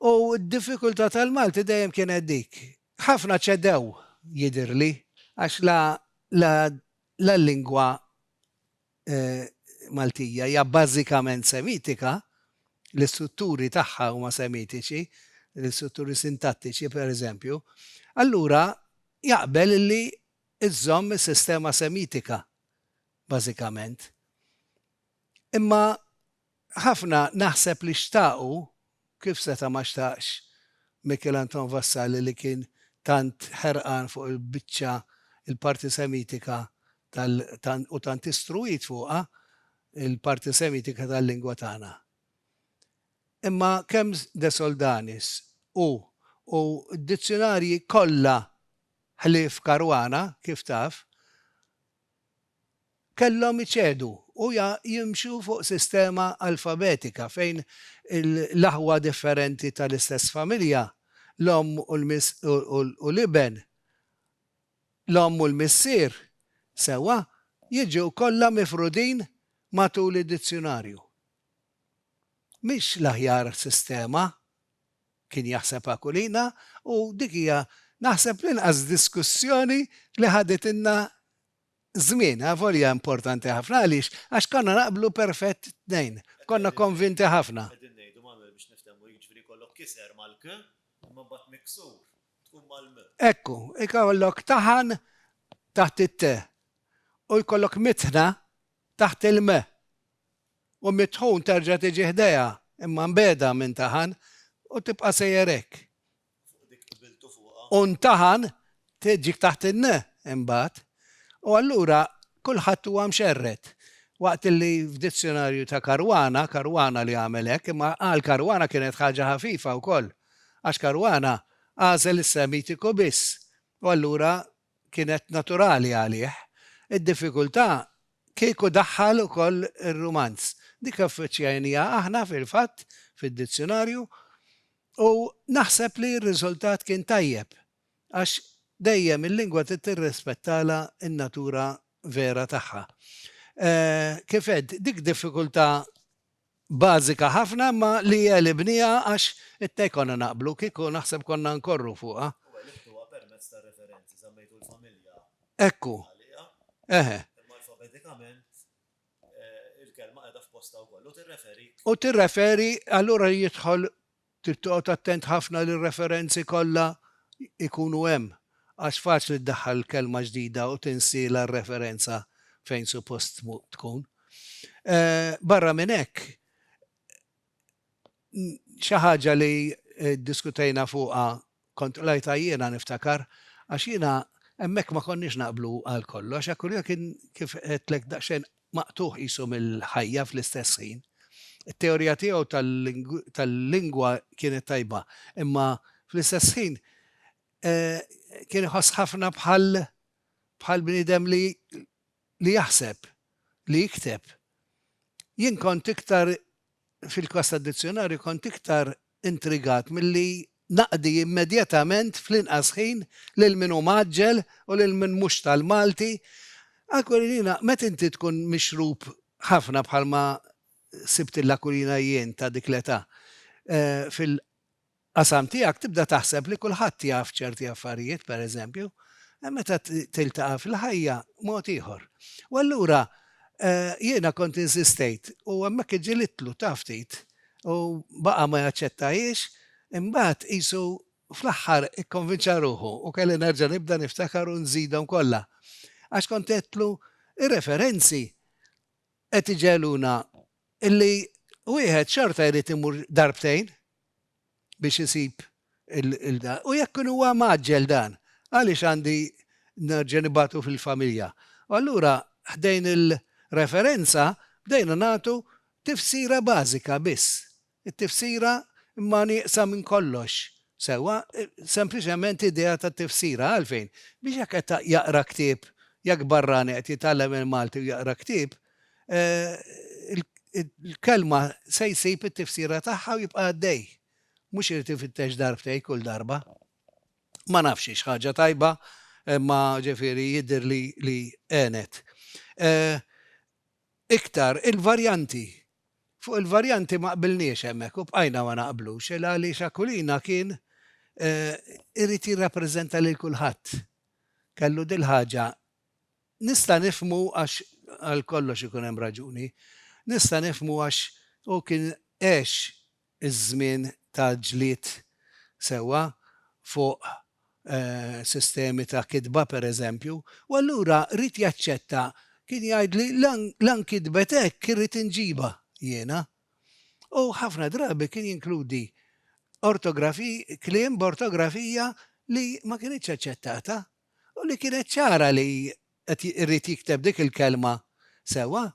U d-diffikultà tal-Malti dejjem kienet dik. Ħafna ċedew, jidhirli, għax la l-lingwa Maltija hija bażikament Semitika, l-istrutturi tagħha huma Semitiċi, l-istrutturi sintattiċi, pereżempju, allura jaqbel li żżomm is-sistema Semitika bażikament. Imma Ħafna naħseb li xtaqu, kif seta' ma xtaqx Mikiel Anton Vassalli li kien tant ħerqan fuq il-biċċa, il-parti semitika tal, u tant istruwit fuqha, il-parti semitika tal-lingwa tagħna. Imma kemm De Soldanis u, u d-dizzjunarji kollha ħlief Caruana, kif taf, kellhom iċedu u jimxu fuq sistema alfabetika fejn l-aħwa differenti tal-istess familja, l-omm u l-iben, l-omm u l-missier, sewwa, jiġu kollha mifrudin matul id-dizzjunarju. Mhix l-aħjar sistema, Kien jaħseb Aquilina u dik hija naħseb l-inqas diskussjoni li ħaditilna żmien, avolja importanti ħafna. Għaliex? Għax konna naqblu perfett t-tnejn. Konna konvinti ħafna. Qegħdin ngħidu mal-, biex niftehmu, jiġifieri jkollok kiser mal-k, imma mbagħad miksur tkun mal-m. Ekku, ikollok taħan taħt it-t u jkollok mitħna taħt il-m. U mit-tħun terġa' tiġi ħdejha, imma mbegħda minn Taħan, u tibqa' sejjer hekk. U Taħan tġik taħt in imbagħad. U allura kulħadd huwa mxerred. Waqt li f'dizzjonarju ta' Caruana, Caruana li għamel hekk, imma għal Caruana kienet ħaġa ħafifa wkoll, għax Caruana għażel is-Semitiku biss, u allura kienet naturali għalih. Id-diffikultà kieku daħħal ukoll ir-rumanz. Dik ffaċċjajniha aħna fil-fatt fid-dizzjunarju u naħseb li r-riżultat kien tajjeb għax dejjem il-lingwa trid tirrispettalha n-natura vera tagħha. Kif għedt, dik diffikultà bażika ħafna imma li għelibniha għax ittej konna naqblu kieku naħseb konna nkorru fuqha. U għelibtuha permezz ta' referenzi, żammejtu l-familja Ekku. għaliha. Eħe. Imma alfabetikament il-kelma qiegħda f'postha wkoll u tirreferi. U tirreferi allura jidħol Trid toqgħod attent ħafna li r-referenzi kollha jkunu hemm, għax faċli ddaħħal kelma ġdida u tinsiela r-referenza fejn suppost tkun. Barra minn hekk, xi ħaġa li ddiskutejna fuqha Kont qlajtha jiena, niftakar, għax jiena hemmhekk ma konniex naqblu għal kollox, Akulio kien kif għedtlek daqsxejn maqtugħ qisu mill-ħajja fl-istess ħin. It-teorija tiegħu tal-lingwa kienet tajba, imma fl-istess ħin kien iħoss ħafna bħal bħal bniedem li li jaħseb, li jikteb. Jien kont iktar, fil-każ tad-dizzjunarju, kont iktar intrigat milli naqdi immedjatament fl-inqas ħin lil min hu mgħaġġel u lil min mhux tal-Malti. Aquilina, meta inti tkun mixrub ħafna bħalma sibt il-Aquilina jien ta' dik l-età, fil. qasam tiegħek tibda taħseb li kulħadd jaf ċerti affarijiet, pereżempju, imma meta tiltaqa' fil-ħajja mod ieħor. U allura jiena kont insistejt u hemmhekk iġġilidtlu ta' ftit u baqa' ma jaċċettahiex, imbagħad qisu fl-aħħar ikkonvinċa ruħu u kelli nerġa' nibda niftakar u nżidhom kollha. Għax kont għedtlu r-referenzi qed iġegħluna li wieħed xorta jrid imur darbtejn biex isib il-dan. U jekk kien huwa mgħaġġel dan, għaliex għandi nerġa' nibgħatu fil-familja? U allura ħdejn il-referenza bdejna nagħtu tifsira bażika biss. It-tifsira imma nieqsa minn kollox. Sewwa, sempliċement idea ta' tifsira. Għalfejn? Biex jekk qed jaqra ktieb, jekk barrani qed jitgħallem il-Malti u jaqra ktieb, il-kelma se jsib it-tifsira tagħha u jibqa' għaddej. Mhux irid ifittex darbtej kull darba. Ma nafx hix ħaġa tajba, imma ġifieri jidher li li għenet. Iktar, il-varjanti. Fuq il-varjanti ma qbilniex hemmhekk u bqajna ma naqblux il għaliex Aquilina kien irid jirrappreżenta lil kulħadd. Kellu dil-ħaġa Nista' nifhmu għax għal kollox ikun hemm raġuni. Nista' nifhmu għax hu kien għex iż-żmien ta' ġlied sewwa fuq sistemi ta' kitba pereżempju, u allura ried jaċċetta, kien jgħidli la nkitbet hekk irrid inġibha jiena. U ħafna drabi kien jinkludi ortografiji, kliem b'ortografija li ma kinitx aċċettata u li kienet ċara li qed irid jikteb dik il-kelma sewwa.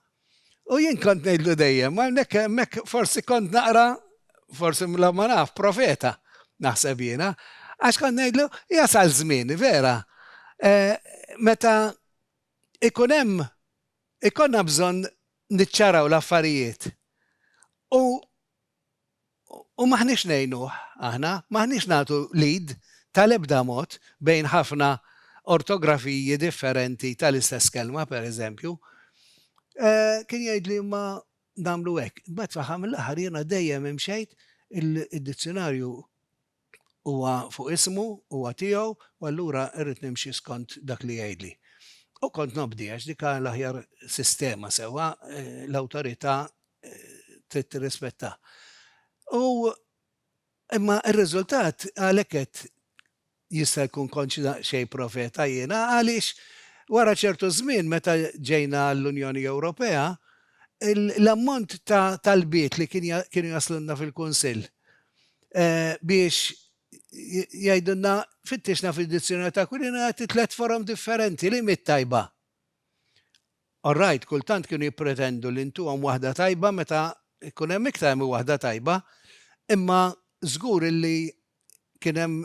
U jien kont ngħidlu dejjem, hawnhekk hemmhekk forsi kont naqra, forsi la ma naf, profeta, naħseb jiena, għax kont ngħidlu jasal żmien, vera, meta jkun hemm ikollna bżonn niċċaraw l-affarijiet u U m'aħniex ngħinuh, aħna, m'aħniex nagħtu l-id tal-ebda mod bejn ħafna ortografiji differenti tal-istess kelma, pereżempju. Kien jgħidli imma nagħmlu hekk. Imbagħad fl-aħħar mill-aħħar jiena dejjem imxejt, id-dizzjonarju Huwa fuq ismu, huwa tiegħu u allura rrid nimxi skont dak li jgħidli. U kont nobdi għax dik hi l-aħjar sistema sewwa, l-awtorità trid tirrispettah. U imma r-riżultat għalhekk għedt jista' jkun kontx daqsxejn profeta jiena għaliex wara ċertu żmien meta ġejna għall-Unjoni Ewropea, l-ammont ta' talbiet li kienu jaslulna fil-Kunsill, biex jgħidulna fittixna fid-dizzjonar ta' Aquilina jagħti tliet forom differenti li mit tajba. Orrajt, kultant kienu jippretendu li ntuhom waħda tajba meta jkun hemm iktar minn waħda tajba, imma żgur illi kien hemm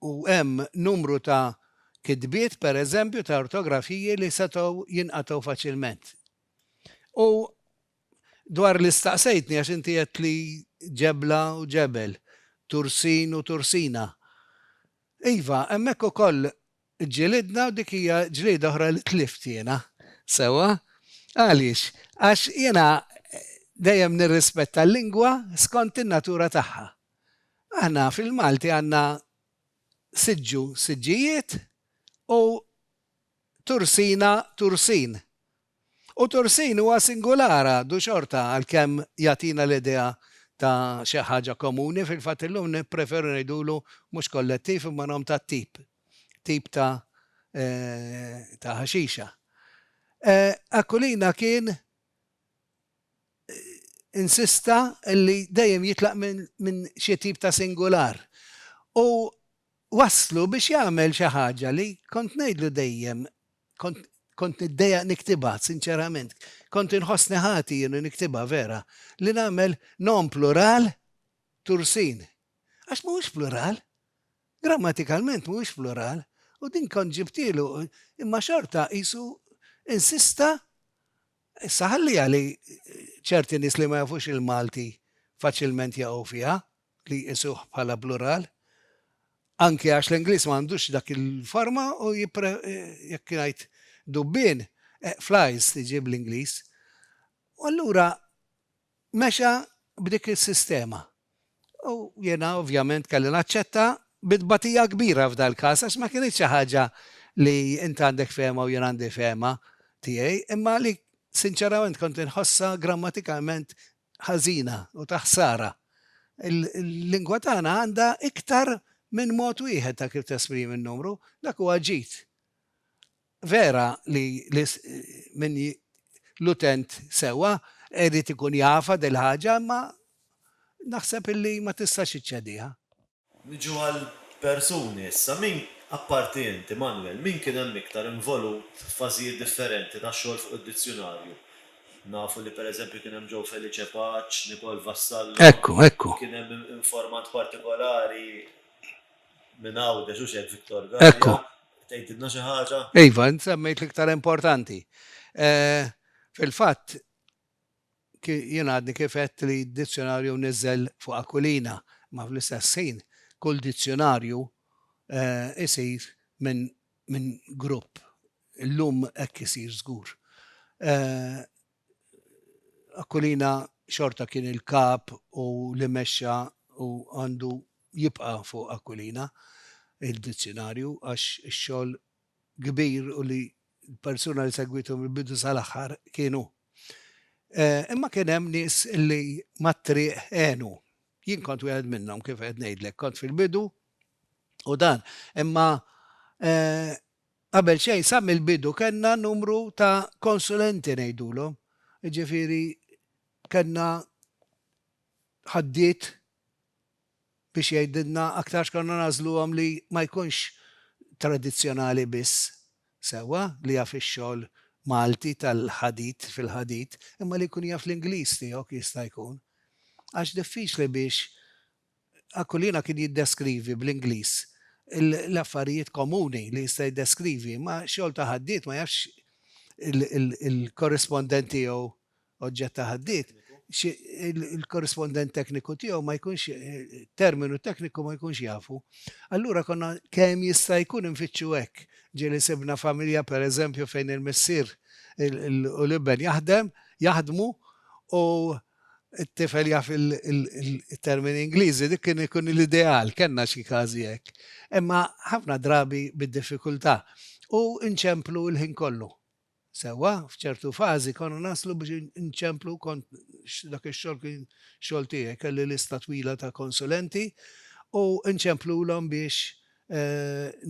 u hemm numru ta' kitbiet, pereżempju, ta' ortografiji li setgħu jinqatgħu faċilment. U Dwar li staqsejtni għax inti għedt li ġebla u ġebel, tursin u tursina. Iva, hemmhekk ukoll ġġilidna u dik hija ġlieda oħra li tlift jiena. Sewwa? Għaliex? Għax jiena dejjem nirrispetta l-lingwa skont in-natura tagħha. Aħna fil-Malti għandna siġġu, siġġijiet u tursina, tursin, U Tursin huwa singular għadu xorta għalkemm jagħtina l-idea ta' xi ħaġa komuni, fil-fatt illum nippreferu ngħidulu mhux kollettiv imma nom ta' tip, tip ta' ta' ħaxixa. Aquilina kien insista li dejjem jitlaq minn xi tip ta' singular u wasslu biex jagħmel xi ħaġa li kont ngħidlu dejjem Kont kont niddejjaq niktibha, sinċerament. Kont inħossni ħati jien li niktibha vera. Li nagħmel nom plural tursin. Għax mhuwiex plural. Grammatikalment mhuwiex plural. U din kont ġibtielu, imma xorta qisu insista issa ħalliha li ċerti nies li ma jafux il-Malti faċilment jaqgħu fiha. li jqisuh bħala plural, anke għax l-Ingliż ma għandux dak il-forma u jipre, jekk ngħid dubbien, flies tiġi bl-Ingliż. U allura mexa b'dik is-sistema. U jiena ovvjament kelli naċċetta bi tbatija kbira f'dal-każ għax ma kinitx xi ħaġa li int għandek fehma u jien għandi fehma tiegħi, imma li sinċerament kont inħossha grammatikalment ħażina u ta' ħsara. Il-lingwa tagħna għandha iktar minn mod wieħed ta' kif tesprimi n-numru, dak huwa ġid. Vera li min l-utent sewwa irid ikun jafha dil-ħaġa imma naħseb illi ma tistax iċċediha. Niġu għall-persuni issa. Min, apparti int, Immanuel, min kien hemm iktar involut f'fażijiet differenti tax-xogħol fuq id-dizzjunarju? Nafu li per eżempju kien hemm Joe Felice Paċ, Nicole Vassallo, Ekku, ekku. kien hemm informant partikolari minn Għawdex, hux hekk, Victor Galea? Ekku. Tgħidilna xi ħaġa? Iva, int semmejt l-iktar importanti. Fil-fatt, Jien għadni kif għedt li d-dizzjonarju mniżżel fuq Aquilina, imma fl-istess ħin kull dizzjonarju jsir minn grupp. Illum hekk isir żgur. Aquilina xorta kien il-kap u li mexxa u għandu jibqa' fuq Aquilina d-dizzjonarju għax ix-xogħol kbir u li l-persuna li segwitu mill-bidu sal-aħħar kienu. Imma kien hemm nies li mat-triq għenu. Jien kont wieħed minnhom kif qed ngħidlek, kont fil-bidu u dan. Imma qabel xejn sa mill-bidu kellna numru ta' konsulenti ngħidulhom, jiġifieri kellna ħaddiet biex jgħidilna aktar x'konna nagħżluhom li ma jkunx tradizzjonali biss, sewwa, li jaf ix-xogħol Malti tal-ħadid fil-ħadid, imma li jkun jaf l-Ingliż tiegħu jekk jista' jkun. Għax diffiċli biex Aquilina kien jiddeskrivi bl-Ingliż l-affarijiet komuni li jista' jiddeskrivi, imma xogħol ta' ħaddied ma jafx il-korrispondent tiegħu oġġett ta' ħaddied, xi, il-korrispondent tekniku tiegħu ma jkunx, terminu tekniku ma jkunx jafu. Allura konna kemm jista' jkun infittxu hekk. Ġieli sibna familja pereżempju fejn il-missier u l-iben jaħdem, jaħdmu u t-tifel jaf il-termini Ingliżi, dik kien ikun l-ideal, kellna xi każi hekk. Imma ħafna drabi bid-diffikultà u nċemplu l-ħin kollu. Sewwa, f'ċertu fażi konna naslu biex inċemplu kont dak ix-xogħol kien xogħol tiegħi, kelli lista twila ta' konsulenti u nċemplulhom biex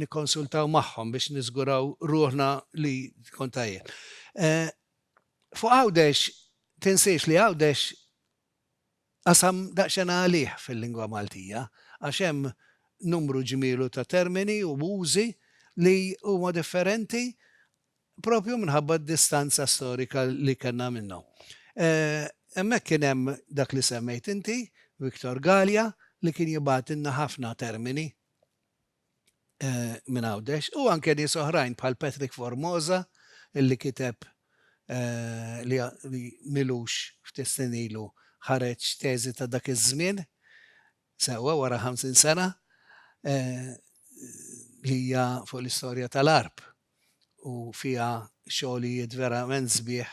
nikkonsultaw magħhom biex niżguraw ruħna li tkun tajjeb. Fuq Għawdex, tinsiex li Għawdex Qasam daqsxejn għalih fil-lingwa Maltija għax hemm numru ġmielu ta' termini u użi li huma differenti proprju minħabba d-distanza storika li kellna minnhom. Hemmhekk kien hemm dak li semmejt inti, Victor Galea, li kien jibgħatilna ħafna termini. minn Għawdex u anke nies oħrajn bħal Patrick Formosa illi kiteb li milux ftit snin ilu ħareġ teżi ta' dak iż-żmien sewwa wara 50 sena li hija fuq l-istorja tal-Għarb u fiha xogħlijiet verament sbieħ,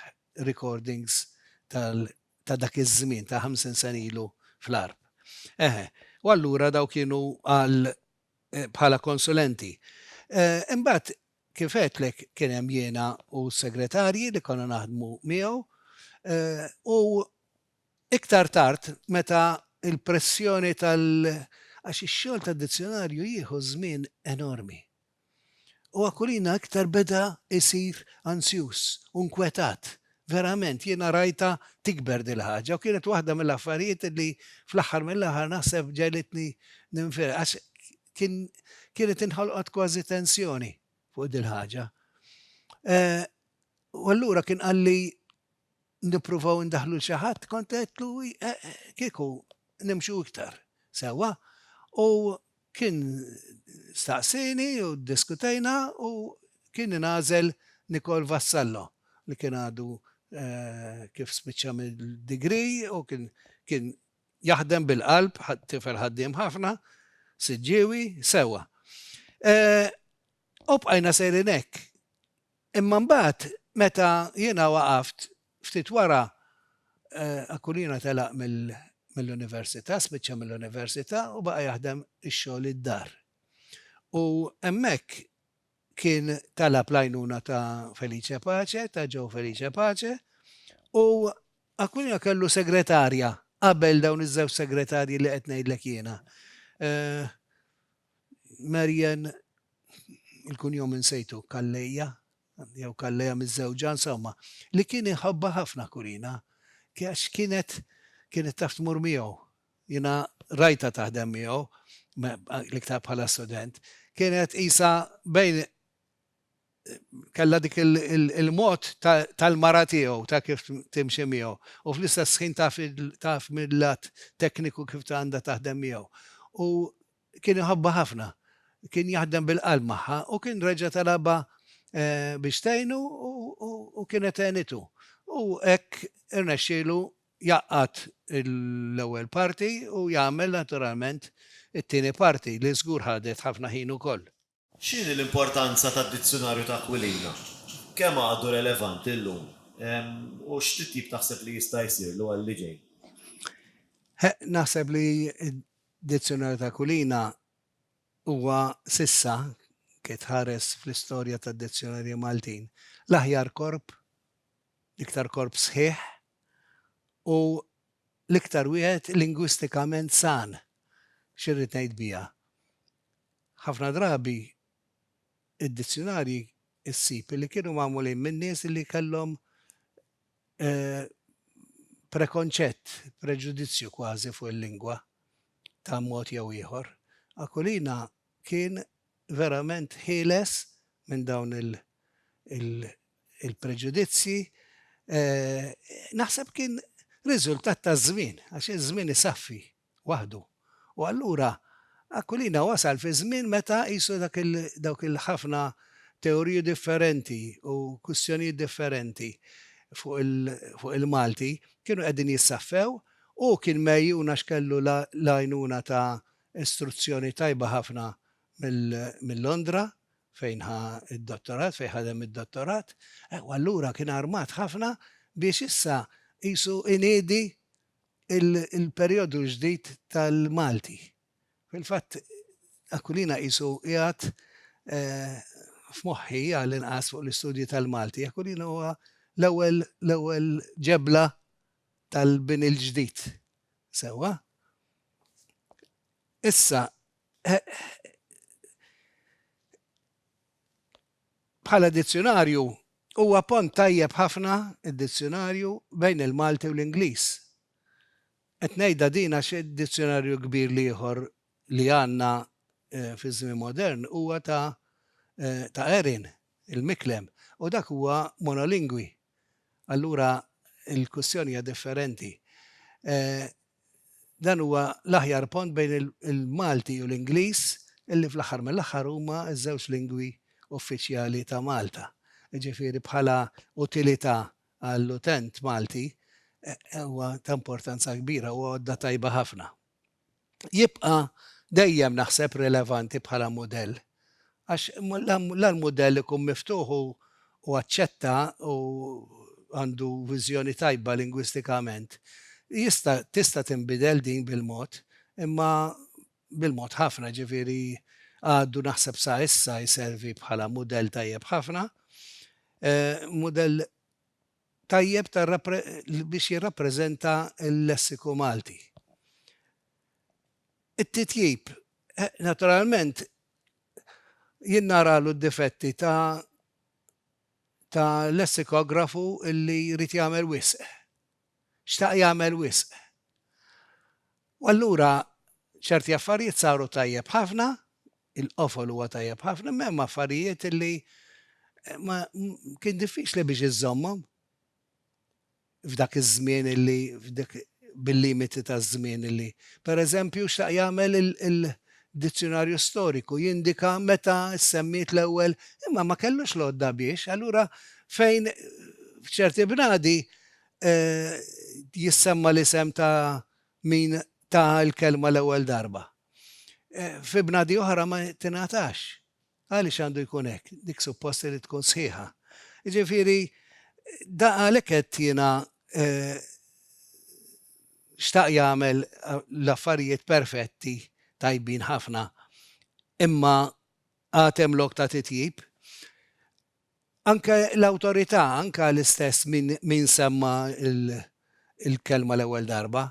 recordings tal-Għarb. ta' dak iż-żmien, ta' ħamsin sena ilu fl-għarb. Eħe. U allura dawk kienu għal bħala konsulenti. Imbagħad kif għedtlek kien hemm jiena u s-segretarji li konna naħdmu miegħu u iktar tard meta l-pressjoni tal-, għax ix-xogħol tad-dizzjonarju jieħu żmien enormi. U Aquilina iktar beda jsir ansjuż u nkwetat. Verament, jiena rajtha tikber din il-ħaġa u kienet waħda mill-affarijiet li fl-aħħar mill-aħħar naħseb ġegħlitni ninfireħ għax kien kienet inħolqot kważi tensjoni fuq din il-ħaġa. U allura kien qalli nippruvaw indaħlu l xi ħadd kont għedtlu eh, kieku nimxu iktar sewwa u kien staqsini u diskutejna u kien ingħażel Nikol Vassallo li kien għadu eh, kif spiċċa mill-digri u kien jaħdem bil-qalb, tifel ħaddiem ħafna, siġġiewi, sewa. Eh, u bqajna sejrin hekk. Imma mbagħad meta jiena waqaft ftit wara, Aquilina telaq mill-università, spiċċa mill-università u baqa' jaħdem ix-xogħol id-dar. U hemmhekk kien talab l-għajnuna ta' Felice Pace, ta' Joe Felice Pace, u Aquilina kellu segretarja qabel dawn iż-żewġ segretarji li qed ngħidlek jiena. Marian, il-kunjom insejtu, Calleja, jew Calleja miżżewġa, insomma, li kien iħobbha ħafna Kurina, għax kienet kienet taf tmur miegħu. Jiena rajtha taħdem miegħu, l-iktar bħala student. Kienet qisha bejn kellha dik il-mod tal-mara tiegħu ta' kif timxi miegħu u fl-istess ħin taf taf mil-lat tekniku kif għandha taħdem miegħu. U kien iħobbha ħafna. Kien jaħdem bil-qalb magħha u kien reġa' talabha biex tgħinu u kienet għenitu. U hekk irnexxielu jgħaqqad l-ewwel parti u jagħmel naturalment it-tieni parti li żgur ħadet ħafna ħin ukoll. X'inhi l-importanza tad-Dizzjunarju ta' Aquilina? Kemm għadu relevanti llum? U x'titjib taħseb li jista' jsirlu għalli ġej? Naħseb li d-Dizzjunarju ta' Aquilina huwa s'issa, ke tħares fl-istorja tad-dizzjunarji Maltin, l-aħjar korp, l-iktar korp sħiħ u l-iktar wieħed lingwistikament san. X'irrid ngħid biha? Ħafna drabi id-dizzjunarji ssib li kienu magħmulin minn nies li kellhom prekonċett, preġudizzju kważi fuq il-lingwa ta' mod jew ieħor. Aquilina kien verament ħieles minn dawn il-preġudizzji. Naħseb kien riżultat taż-żmien, għax iż-żmien isaffi waħdu. U allura Aquilina wasal fi żmien meta qisu dak il, dawk il-ħafna teoriji differenti u kwistjonijiet differenti fuq il, fuq il-Malti kienu qegħdin jissaffew, hu kien megħjun għax kellu l-għajnuna ta' istruzzjoni tajba ħafna mill, minn Londra fejn ħa d-dottorat, fejn ħadem id-dottorat, u allura kien armat ħafna biex issa qisu iniedi il-perjodu ġdid tal-Malti. Fil-fatt, Aquilina qisu qiegħed f'moħħi għall-inqas fuq l-istudji tal-Malti. Aquilina huwa l-ewwel l-ewwel ġebla tal-bini l-ġdid. Sewwa? Issa, Bħala dizzjunarju, huwa pont tajjeb ħafna, id-dizzjunarju, bejn il-Malti u l-Ingliż. Qed ngħidha din għax id-dizzjunarju kbir l-ieħor li għandna fiż-żmien modern huwa ta' ta' Erin, il-Miklem, u dak huwa monolingwi. Allura l-kwistjoni hija differenti. dan huwa l-aħjar pont bejn il-Malti u l-Ingliż illi fl-aħħar mill-aħħar huma ż-żewġ lingwi uffiċjali ta' Malta. Jiġifieri bħala utilità għall-utent Malti huwa ta' importanza kbira, huwa għodda tajba ħafna. Jibqa' dejjem naħseb rilevanti bħala mudell. Għax la l-mudell ikun miftuħ u aċċetta u għandu viżjoni tajba lingwistikament, jista' tista' tinbidel din bil-mod, imma bil-mod ħafna, jiġifieri għadu naħseb sa issa jservi bħala mudell tajjeb ħafna, mudell tajjeb ta' biex jirrappreżenta l-lessiku Malti. It-titjib, naturalment, jien naralu d-difetti ta' ta' lessikografu li jrid jagħmel wisq. Xtaq jagħmel wisq. U allura ċerti affarijiet saru tajjeb ħafna, il-qofol huwa tajjeb ħafna, imma hemm affarijiet li ma kien diffiċli biex iżżommhom. f'dak iż-żmien li f'dik bil-limiti taż-żmien li. Per eżempju, x'taq jagħmel il-Dizzjunarju Storiku? Jindika meta ssemmiet l-ewwel, imma ma kellux l-għodda biex. Allura fejn f'ċerti bnadi jissemma l-isem ta' min ta l-kelma l-ewwel darba, fi bnadi oħra ma tingħatax. Għaliex għandu jkun hekk? Dik suppost li tkun sħiħa. Jiġifieri da għalhekk qed jiena xtaq jagħmel l-affarijiet perfetti tajbin ħafna imma għad hemm lok ta' titjib. Anke l-awtorità, anke l-istess min, min semma l-kelma l-ewwel darba,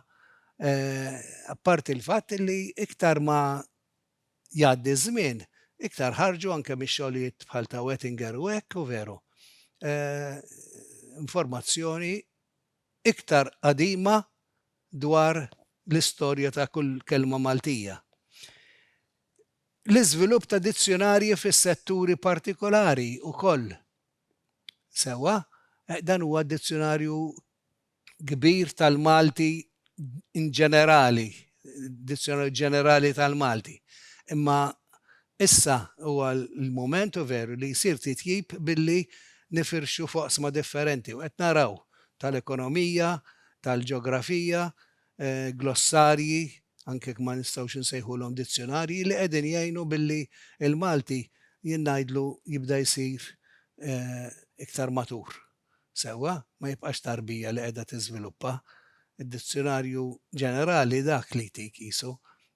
apparti l-fatt li iktar ma jgħaddi ż-żmien, iktar ħarġu anke mix-xogħlijiet bħal ta' Oettinger u hekk, u veru, informazzjoni iktar qadima dwar l-istorja ta' kull kelma Maltija. L-iżvilupp ta' dizzjunarji fis-setturi partikolari wkoll. Sewwa, dan huwa dizzjunarju kbir tal-Malti inġenerali, Dizjonar Ġenerali tal-Malti, imma issa huwa l-mument u veru li jsir titjib billi nifirxu f'oqsma differenti u qed naraw tal-ekonomija, tal-ġeografija, glossarji, anke jekk ma nistgħux insejħulhom dizzjonarji, li qegħdin jgħinu billi l-Malti jien ngħidlu jibda jsir iktar matur. sewwa, ma jibqax tarbija li qiegħda tiżviluppa. Id-Dizzjunarju Ġenerali dak li jtik qisu.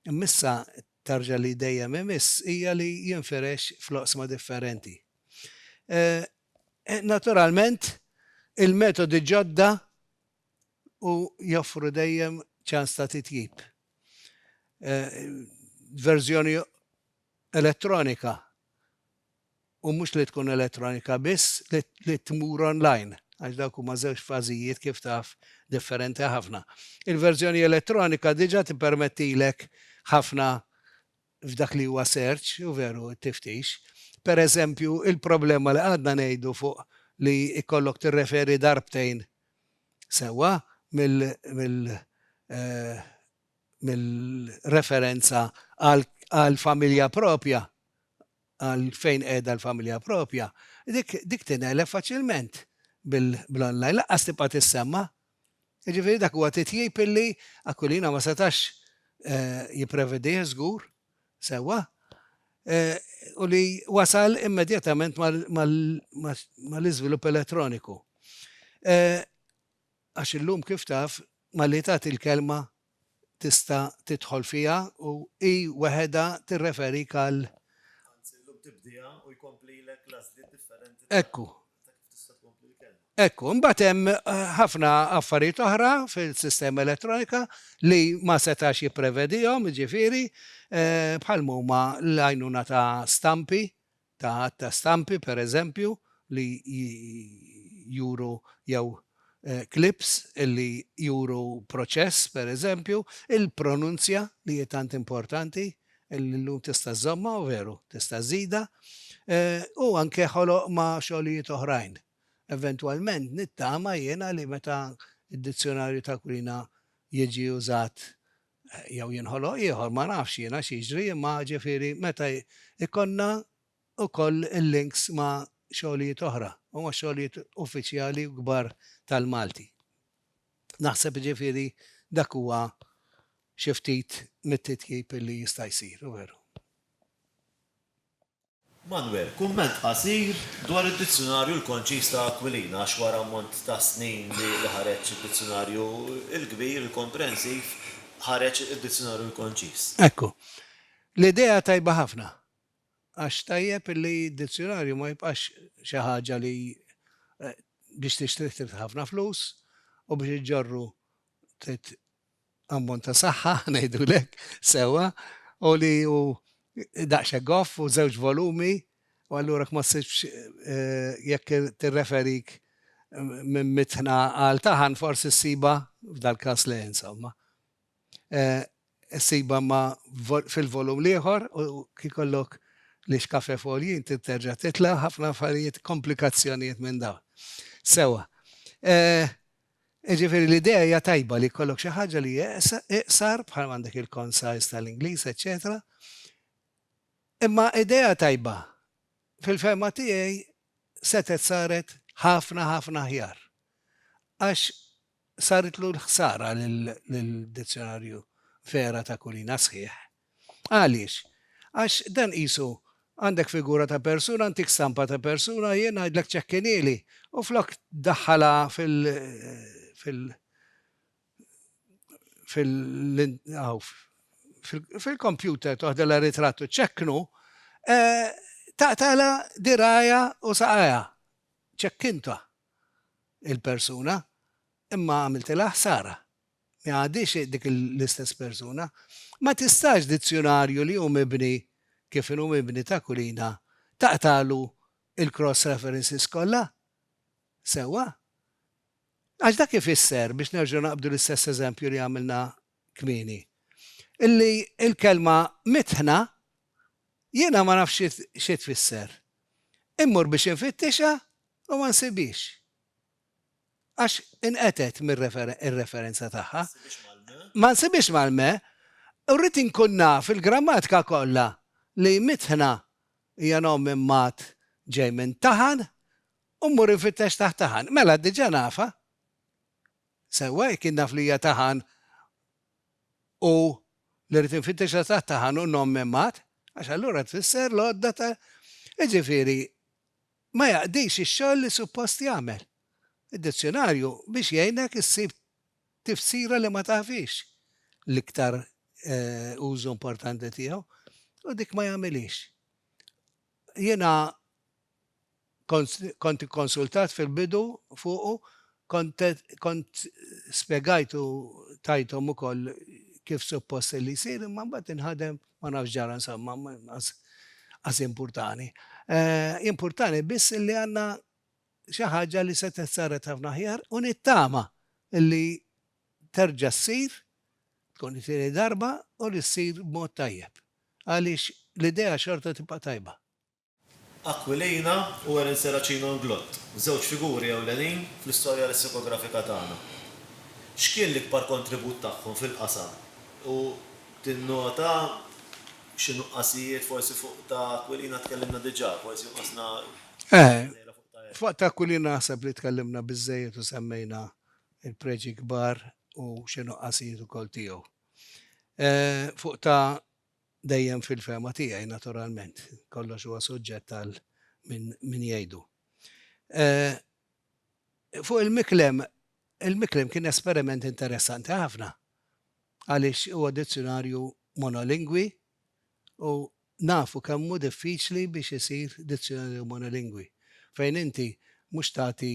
Imma issa t-tarġa li dejjem imiss hija li jinfirex fl-oqsma differenti. Naturalment, il-metodi ġodda u joffru dejjem ċans ta' titjib. Verżjoni elettronika u mhux li tkun elettronika biss, li tmur online, għax dawk huma żewġ fażijiet kif taf differenti ħafna. Il-verżjoni elettronika diġà tippermettilek ħafna f'dak li huwa search, u veru, it-tiftix. Pereżempju, il-problema li qgħadna ngħidu fuq li jkollok tirreferi darbtejn sewwa mill-referenza għall-familja proprja għal fejn qiegħda l-familja proprja, dik tingħeleb faċilment bl-online, lanqas tibqa' tissemma'. Jiġifieri dak huwa titjib illi Aquilina ma setax jipprevedih żgur sewwa u li wasal immedjatament mal-iżvilupp elettroniku. Għax illum kif taf malli tagħti l-kelma tista' tidħol fiha u hi weħedha tirreferik għal. Anzi, illum tibdieha u jkomplilek l-għażliet differenti ta' kif tista' tkompli l-kelma. Hekk hu. Imbagħad hemm ħafna affarijiet oħra fil-sistema elettronika li ma setax jipprevedihom, jiġifieri bħal ma huma l-għajnuna ta' stampi, ta' għadd ta' stampi, per eżempju, li juru jew clips li juru proċess, per eżempju, il-pronunzja li hi tant importanti li llum tista' żżommha u veru tista' żżidha, u anke ħoloq ma' xogħlijiet oħrajn. Eventwalment nittama jiena li meta d-Dizzjunarju ta' Kwina jiġi użat Jew jinħoloq ieħor, ma nafx jiena x'jiġri imma ġifieri meta jkollna wkoll il-links ma' xogħlijiet oħra u ma' xogħlijiet uffiċjali u kbar tal-Malti. Naħseb ġifieri dak huwa xi ftit mit-titjib li jista' jsir, veru. Manwel, kumment qasir dwar id-Dizzjunarju l-Konċiż ta' Aquilina għax wara ammont ta' snin li ħareġ id-Dizzjunarju l-Kbir, il-Komprensiv, ħareġ id-Dizzjunarju l-Konċiż. Ekku. L-idea tajba ħafna. Għax tajjeb li d-Dizzjunarju ma jibqax xi ħaġa li biex tixtrih trid ħafna flus u biex iġġorru trid ammont ta' saħħa, ngħidulek, sewwa, u li hu daqsxekk goff u żewġ volumi, u allura ma ssibx jekk tirreferik minn mitħna għal taħan forsi ssiba f'dal-każ le insomma. Ssiba ma fil-volum l-ieħor u kikollok li xkafe folji inti terġa' titla' ħafna affarijiet komplikazzjonijiet minn dawn. Sewwa. Jiġifieri l-idea hija tajba li jkollok xi ħaġa li hija iqsar bħal m'għandek il-concise tal-Ingliż eċċetera. Imma idea tajba fil-fehma tiegħi setgħet saret ħafna ħafna aħjar. Għax saritlu l-ħsara lid-dizzjonarju vera ta' Kulina sħiħ Għaliex? Għax dan qisu għandek figura ta' persuna, ntik stampa ta' persuna, jien ngħidlek ċekkinili u flok ddaħħalha fil fil fil hawn fil-kompjuter toħdilha ritratt u ċċekknu, taqtagħlha dirgħajha u saqajha. Ċekkintha il-persuna imma għamiltilha ħsara. ma għadhiex dik l-istess persuna. Ma tistax dizzjunarju li hu mibni kif inhu mibni ta' Kulina taqtagħlu l-cross references kollha sewwa. Għax dak ifisser, biex nerġgħu naqbdu l-istess eżempju li għamilna kmieni, li l-kelma mitħna jiena ma nafx xi tfisser. Immur biex infittixha u ma nsibhiex. Għax inqetgħet mir-referenza tagħha. Ma nsibhiex mal-me. U rrid inkun naf il-grammatika kollha li mitħna hija nom minn mat ġej minn taħan u mmur infittex taħt taħan. Mela diġà nafha. Sewwa jekk jien naf li hija taħan u li rrid infittixha taħt taħan u nom minn mat, għax allura tfisser l-għodda ta' jiġifieri ma jaqdix ix-xogħol li suppost jagħmel. Id-dizzjunarju biex jgħinek issib tifsira li ma tafhiex l-iktar użu importanti tiegħu u dik ma jagħmilhiex. Jiena kont ikkonsultat fil-bidu fuqu Kont spjegajt u tajthom ukoll kif suppost kelli jsir imma mbagħad inħadem, ma nafx x'ġara insomma, qas impurtani. Impurtani biss li għandna xi ħaġa li setgħet saret ħafna aħjar u nittama li terġa' ssir, tkun it-tieni darba u li ssir b'mod tajjeb għaliex l-idea xorta tibqa' tajba. Aquilina u Erin Serracino Inglott, żewġ figuri ewlenin fl-istorja lessikografika tagħna. X'kien l-ikbar kontribut tagħhom fil-qasam u tinnota xi nuqqasijiet, forsi fuq ta' Aquilina tkellimna diġà, forsi jonqosna sejra fuq ta' Erin? Fuq ta' Aquilina naħseb li tkellimna biżżejjed u semmejna l-preġi kbar u xi nuqqasijiet ukoll tiegħu. Fuq ta' Dejjem fil-fehma tiegħi, naturalment. Kollox huwa suġġett għal min jgħidu. Fuq il-miklem, il-miklem kien esperiment interessanti ħafna għaliex huwa dizzjunarju monolingwi u nafu kemm hu diffiċli biex isir dizzjunarju monolingwi fejn inti mhux tagħti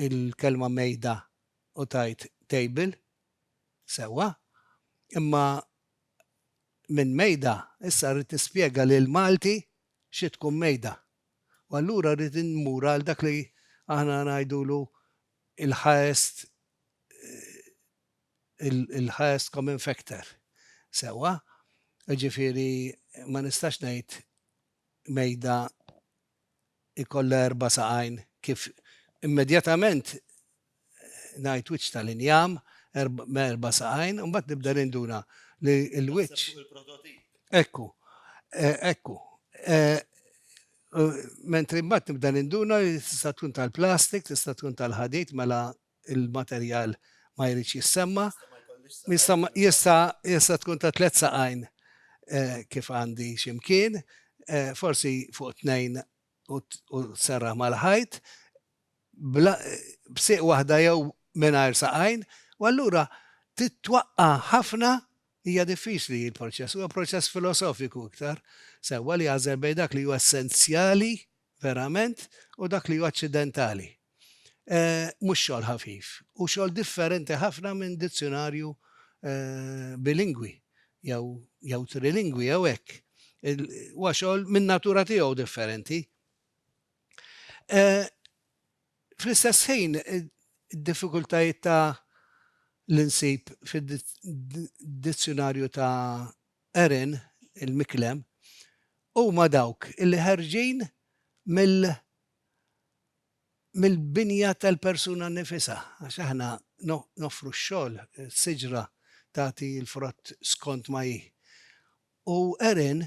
l-kelma mejda u tgħid table sewwa imma minn mejda, issa rrid nispjega lill-Malti xi tkun mejda. U allura rrid immur għal dak li aħna ngħidulu l-highest il-highest common factor. Sewwa? Jiġifieri ma nistax ngħid mejda ikollha erba' saqajn kif immedjatament ngħid wiċċ tal-injam me erba' saqajn, imbagħad nibda ninduna li l-wiċċ. Naħseb fuq il-prototip. Ekku, ekku. Mentri mbagħad nibda ninduna li tista' tkun tal-plastik, tista' tkun tal-ħadid mela il-materjal ma jridx jissemma, jista' jista' tkun ta' tliet saqajn kif għandi x'imkien, forsi fuq tnejn u serraħ mal-ħajt, b'sieq waħda jew mingħajr saqajn, u allura trid twaqqa' ħafna, hija diffiċli l-proċess, huwa proċess filosofiku iktar, sewwa li jagħżel bejn dak li huwa essenzjali verament u dak li hu aċċidentali. Mhux xogħol ħafif, hu xogħol differenti ħafna minn dizzjunarju bilingwi jew jew trilingwi jew hekk. Huwa xogħol min-natura tiegħu differenti. Fl-istess ħin id-diffikultajiet ta' li nsib fid-dizzjunarju ta' Erin, il-Miklem, huma dawk li ħerġin mill mill-binja tal-persuna nnifisha għax aħna noffru x-xogħol, is-siġra tagħti l-frott skont ma hi. U Erin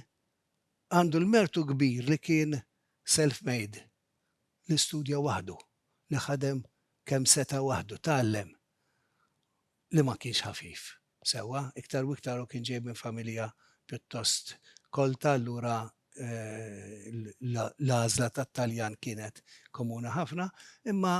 għandu l-mertu kbir li kien self-made, li studja waħdu, li ħadem kemm seta' waħdu, tgħallem. li ma kienx ħafif sewwa, iktar u iktar hu kien ġej minn familja pjuttost kolta allura l-għażla tat-Taljan kienet komuni ħafna, imma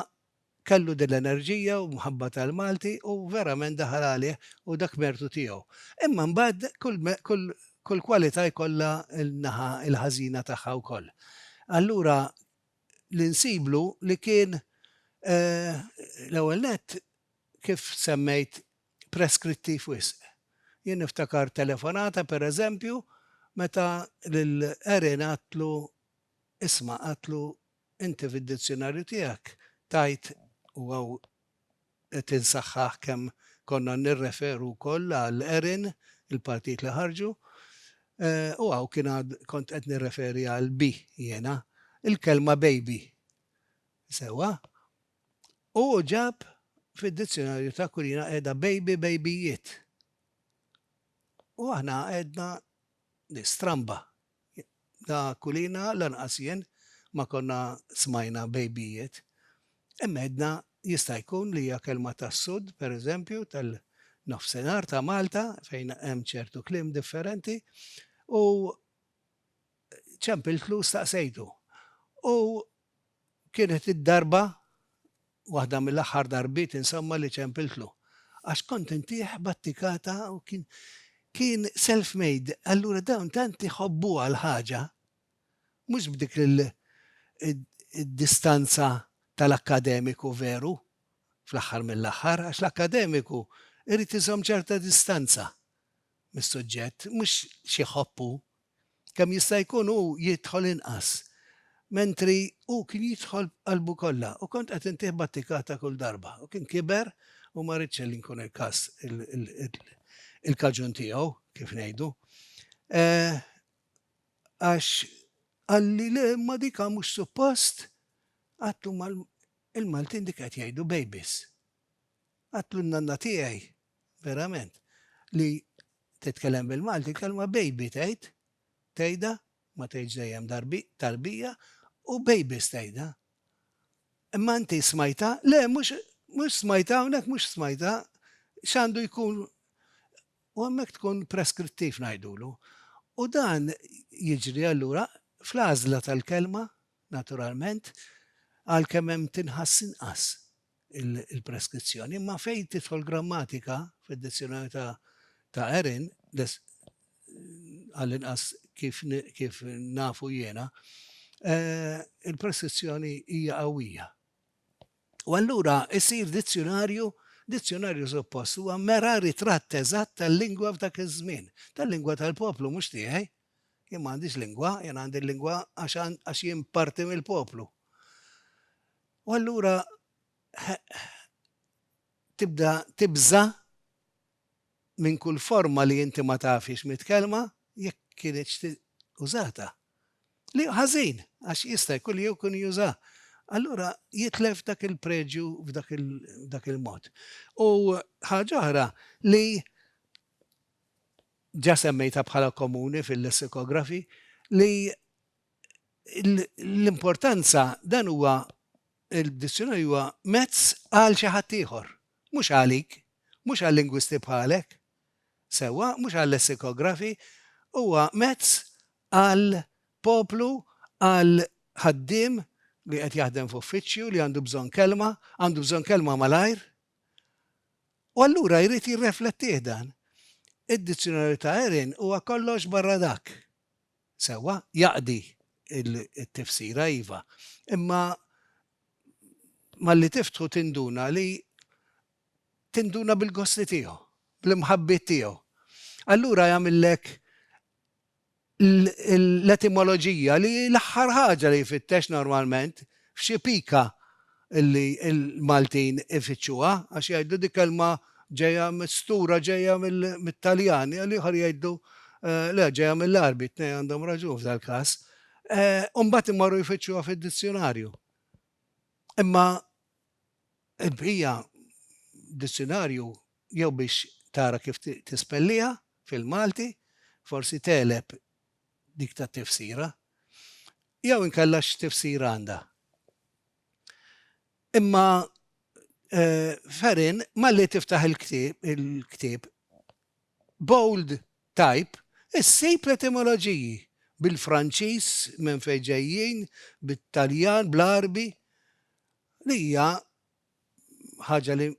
kellu din l-enerġija u mħabba tal-Malti u verament daħal għalih u dak mertu tiegħu. Imma mbagħad kull kwalità jkollha n-naħa l-ħażina tagħha wkoll. Allura li nsiblu li kien l-ewwel nett kif semmejt, preskrittiv wisq. Jien niftakar telefonata, per eżempju, meta lil Erin għadtlu, isma' għadtlu, inti fid-dizzjunarju tiegħek tajt, u hawn qed insaħħaħ kemm konna nirreferu wkoll għal Erin, il-partijiet li ħarġu, u hawn kien għad kont qed nirreferi għal bi jiena, il-kelma baby. Sewwa? Hu ġab fid-dizzjonarju t'Akwilina qiegħda baby bejbijiet. U aħna għedna li stramba. La Akwilina lanqas jien ma konna smajna bejbijiet. Hemm għedna jista' jkun li hija kelma tas-Sud, per eżempju, tal-Nofsinhar ta' Malta fejn hemm ċertu kliem differenti, u ċempiltlu staqsejtu. U Kienet id-darba, waħda mill-aħħar darbiet insomma li ċempiltlu. Għax kont intieh battikata u kien, kien self made. Allura dawn tant iħobbuha l-ħaġa, mhux b'dik il-distanza tal-akkademiku veru, fl-aħħar mill-aħħar, għax l-akkademiku jrid iżomm ċerta distanza mis-suġġett, mhux x'jħobb hu, kemm jista' jkun hu jidħol inqas, mentri hu kien jidħol b'qalbu kollha u kont qed intih battikata kull darba u kien kiber u ma ridx li nkun il-każ il-kaġun tiegħu, kif ngħidu. Għax qalli le ma dik mhux suppost, għatlu il-Maltin dik qed jgħidu babies. Għatlu n-nanna tiegħi Verament. Li titkellem bil-Malti, l-kelma baby tgħid, tgħidha, ma tgħidx dejjem tarbija, u babies tgħidha. Imma inti smajtha, le mhux mhux smajtha hawnhekk mhux smajtha, x'għandu jkun u hemmhekk tkun preskrittiv ngħidulu. U dan jiġri allura fl-għażla tal-kelma, naturalment, għalkemm hemm tinħass inqas. il-preskrizzjoni, imma fejn tidħol grammatika fid-dizzjonarju ta' ta' Erin, għall-inqas kif, kif nafu jiena, eh, il-preskrizzjoni hija qawwija. U allura isir dizzjonarju dizzjonarju suppost huwa mera ritratt eżatt tal-lingwa f'dak iż-żmien, tal-lingwa tal-poplu mhux tiegħi. Jien m'għandix lingwa, jien għandi lingwa għax jien parti mill-poplu. U allura tibda tibża' minn kull forma li inti ma tafhiex mitkellma, jekk kinitx użata. Li hu ħażin, għax jista' jkun li jew kun juża'. Allura jitlef dak il-preġju f'dak il-mod. U ħaġa oħra li ġa semmejtha bħala komuni fil-lessikografi, li l-importanza dan huwa il-dizzjonarju huwa mezz għal xi ħadd ieħor, mhux għalik, mhux għal lingwisti bħalek, sewwa, mhux għal lessikografi, huwa mezz għal poplu, għal ħaddiem li qed jaħdem f'uffiċċju li għandu bżonn kelma, għandu bżonn kelma malajr. U allura jrid jirreflettih dan. Id-dizzjonarju ta' Erin huwa kollox barra dak. Sewwa, jaqdi t-tifsira, iva. Imma malli tiftħu tinduna li tinduna bil-gosti tiegħu, bl-imħabbiet tiegħu. Allura jagħmillek l-etimoloġija li hi l-aħħar ħaġa li jfittex normalment F'xi pika li l-Maltin ifittxuha, għax jgħidu dik kelma ġejja mistura ġejja mit-Taljan, l-ieħor jgħidu le ġejja mill-Għarbi, t-tnejn għandhom raġun f'dal-każ, u mbagħad imorru jfittxuha fid-dizzjunarju. Imma l-bqija dizzjunarju jew biex tara kif tispelliha fil-Malti, forsi tegħleb dik tat-tifsira, jew inkella x'tifsira għandha. Imma Ferin malli tiftaħ il-ktieb, bold type, issib l-etimoloġiji bil-Franċiż minn fejn ġejjin, bit-Taljan, bl-Għarbi, li hija ħaġa li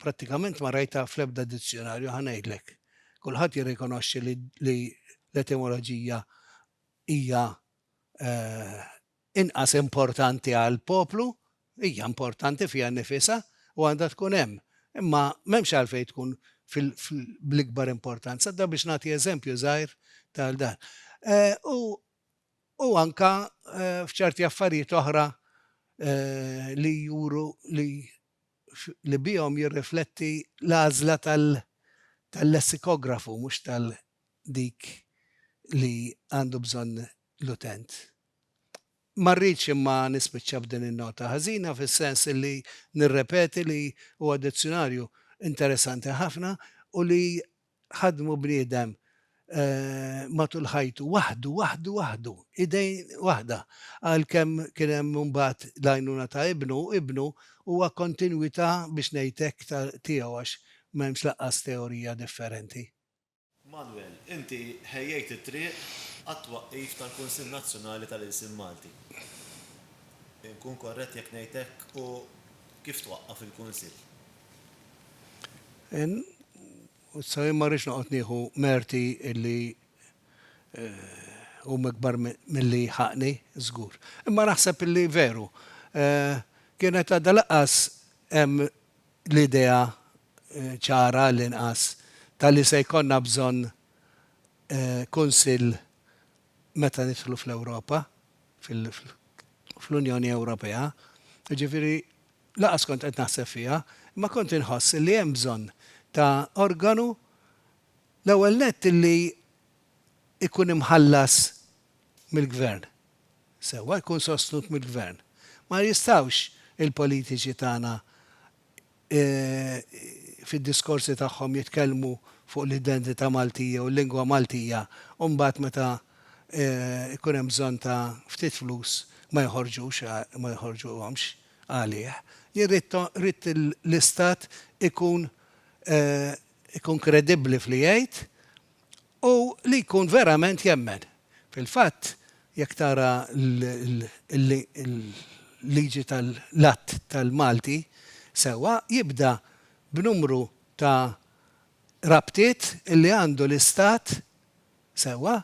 prattikament ma rajtha fl-ebda dizzjonarju ħa ngħidlek. Kulħadd jirrikonoxxi li, li l-etimoloġija hija eh, inqas importanti għal poplu, hija importanti fiha nifisa u għandha tkun hemm. Imma m'hemmx għalfejn tkun fil-ikbar importanza, da biex nagħti eżempju żgħir tal dan. Eh, u u anke f'ċerti affarijiet oħra li juru li li bihom jirrifletti l-għażla tal-lessikografu mhux tal dik li għandu bżonn l-utent. Ma rridx imma nispiċċa b'din in-nota ħażina fis-sens li nirrepeti li huwa dizzjunarju interessanti ħafna u li ħaddmu bniedem matul ħajtu waħdu, waħdu, waħdu, idejn waħda. Għalkemm kien hemm imbagħad l-għajnuna ta' Ibnu, Ibnu huwa kontinwità biex ngħid hekk ta' tiegħu għax m'hemmx lanqas teorija differenti. Manwel, inti ħejjejt it-triq għat-twaqqif tal-Kunsill Nazzjonali tal-Ilsien Malti. Inkun korrett jekk ngħid hekk u kif twaqqaf il-Kunsill? N, U issa jien ma rridx noqgħod nieħu merti li huma ikbar milli ħaqqni, żgur. Imma naħseb li veru, kienet għadha lanqas hemm l-idea ċara għall-inqas ta' li se jkollna bżonn Kunsill meta nidħlu fl-Ewropa, fl-Unjoni Ewropea. Jiġifieri, Lanqas kont qed naħseb fiha, imma kont inħoss li hemm bżonn ta' organu l-ewwel nett li jkun imħallas mill-Gvern, sewwa jkun sostnut mill-Gvern. Ma jistgħux il-politiċi tagħna fid-diskorsi tagħhom jitkellmu fuq l-identità Maltija u l-lingwa Maltija u mbagħad meta jkun hemm bżonn ta' ftit flus ma joħorġux, ma joħorġuhomx. għalih. Jien rrid l-Istat ikun ikun kredibbli f'li jgħid u li jkun verament jemmen. Fil-fatt, jekk tara l-liġi tal-Att tal-Malti sewwa, jibda b'numru ta' rabtiet li għandu l-Istat sewwa,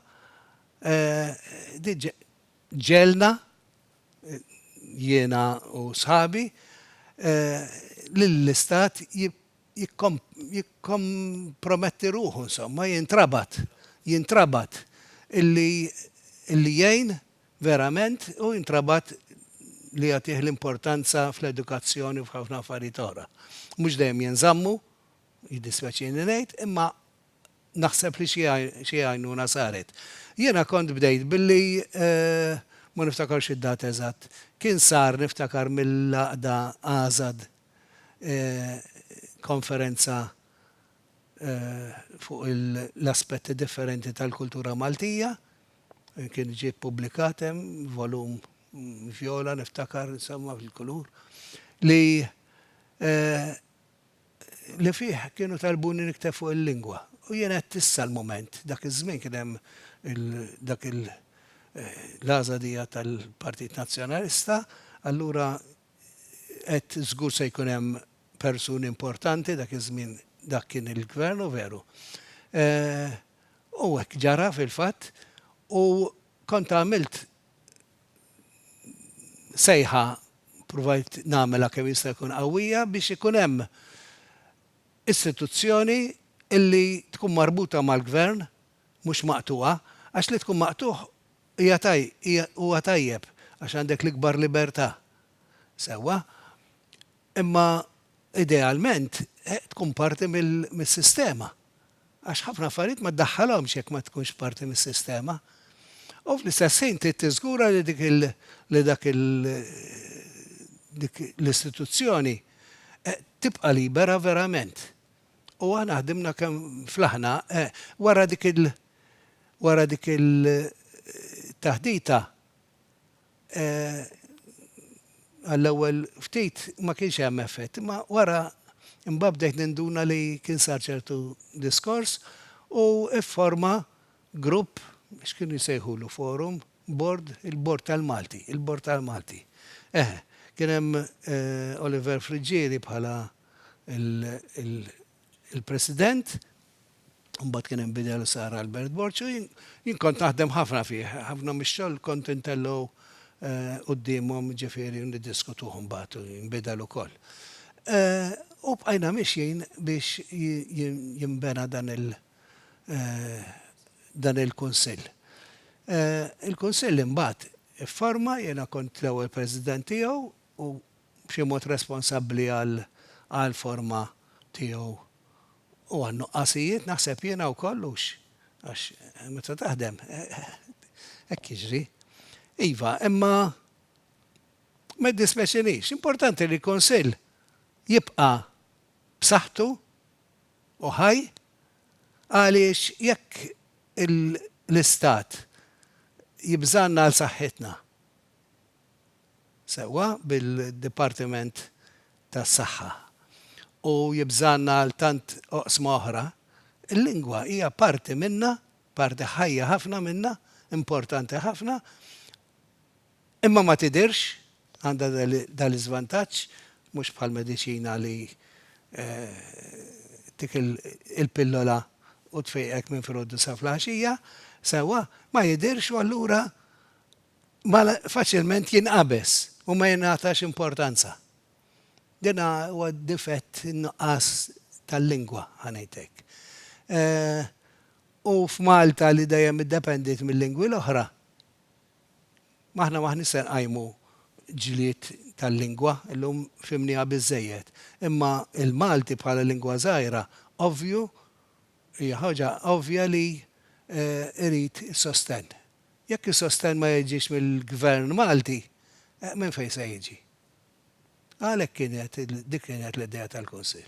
diġ, ġegħelna jiena u sħabi, lill-Istat jikkomprometti ruħu, insomma, jintrabat, jintrabat illi illi jgħin verament u jintrabat li jagħtih l-importanza fl-edukazzjoni u f'ħafna affarijiet oħra. Mhux dejjem jinżammu. Jiddispjaċini ngħid, imma naħseb li xi għajnuna saret. Jiena kont bdejt billi, ma niftakarx id-data eżatt, kien sar niftakar mill-għaqda ASAD konferenza fuq l-aspetti differenti tal-kultura Maltija, kien ġie ppubblikat hemm, volum vjola niftakar, insomma, fil-kulur, li, li fih kienu talbuni nikteb fuq il-lingwa u jien għedt issa l-mument, dak iż-żmien kien hemm dak il l-għażla dija tal-Partit Nazzjonalista, allura għedt żgur se jkun hemm persuni importanti dak iż-żmien dak kien il-Gvern u veru. U hekk ġara fil-fatt u kont għamilt sejħa provajt nagħmilha kemm jista' jkun qawwija biex ikun hemm istituzzjoni li tkun marbuta mal-Gvern mhux maqtugħa għax li tkun maqtugħ hija hija huwa tajjeb għax għandek l-ikbar libertà sewwa imma idealment tkun parti mis-sistema għax ħafna affarijiet ma ddaħħalhomx jekk ma tkunx parti mis-sistema, u fl-istess ħin trid tiżgura li dik il li dak il dik l-istituzzjoni tibqa' libera verament. U aħna ħdimna kemm flaħna wara dik il wara dik il taħdita Għall-ewwel ftit ma kienx hemm effett, imma wara mbagħad bdejt ninduna li kien sar ċertu diskors u fforma grupp, x'kienu jsejħulu, forum, bord, il-bord tal-Malti, il-bord tal-Malti. Eħe, kien hemm Oliver Friggieri bħala l-, il-President, mbagħad kien hemm bidel u sar Albert Borg u jien jien kont naħdem ħafna fih, ħafna mix-xogħol kont intellgħu quddiemhom ġifieri niddiskutuh mbagħad u jinbidel ukoll. U bqajna mixjin biex jinbena dan il- dan il-Kunsill. Il-Kunsill imbagħad ifforma, jiena kont l-ewwel President tiegħu u b'xi mod responsabbli għal għall-forma tiegħu u għan-nuqqasijiet, naħseb jiena wkoll hux, għax meta taħdem hekk jiġri. Iva, imma ma jiddispjaċinix, importanti li l-Kunsill jibqa' b'saħħtu u ħaj għaliex jekk l-Istat jibżgħanna għal saħħitna, sewwa bil-Dipartiment tas-Saħħa u jibżgħanna għal tant oqsma oħra, il-lingwa hija parti minnha, parti ħajja ħafna minnha, importanti ħafna, imma ma tidhirx, għandha dan l-iżvantaġġ, mhux bħall-mediċina li ttik il-pillola u tfiqek minn filgħodu sa fil-għaxija, sewwa, ma jidhirx u allura Mal faċilment jinqabeż u ma jingħatax importanza. Din huwa difett in-nuqqas tal-lingwa, ħa ngħid hekk. U f'Malta li dejjem iddependiet mil-lingwi l-oħra, aħna m'aħniex se nqajmu ġlied tal-lingwa, illum fhimnieha biżżejjed. Imma l-Malti bħala lingwa żgħira ovvju Hija ħaġa ovvja li jrid sostenn. Jekk is-sostenn ma jiġix mill-Gvern Malti, minn fejn se jiġi? Għalhekk kienet, dik kienet l-idea tal-Kunsill.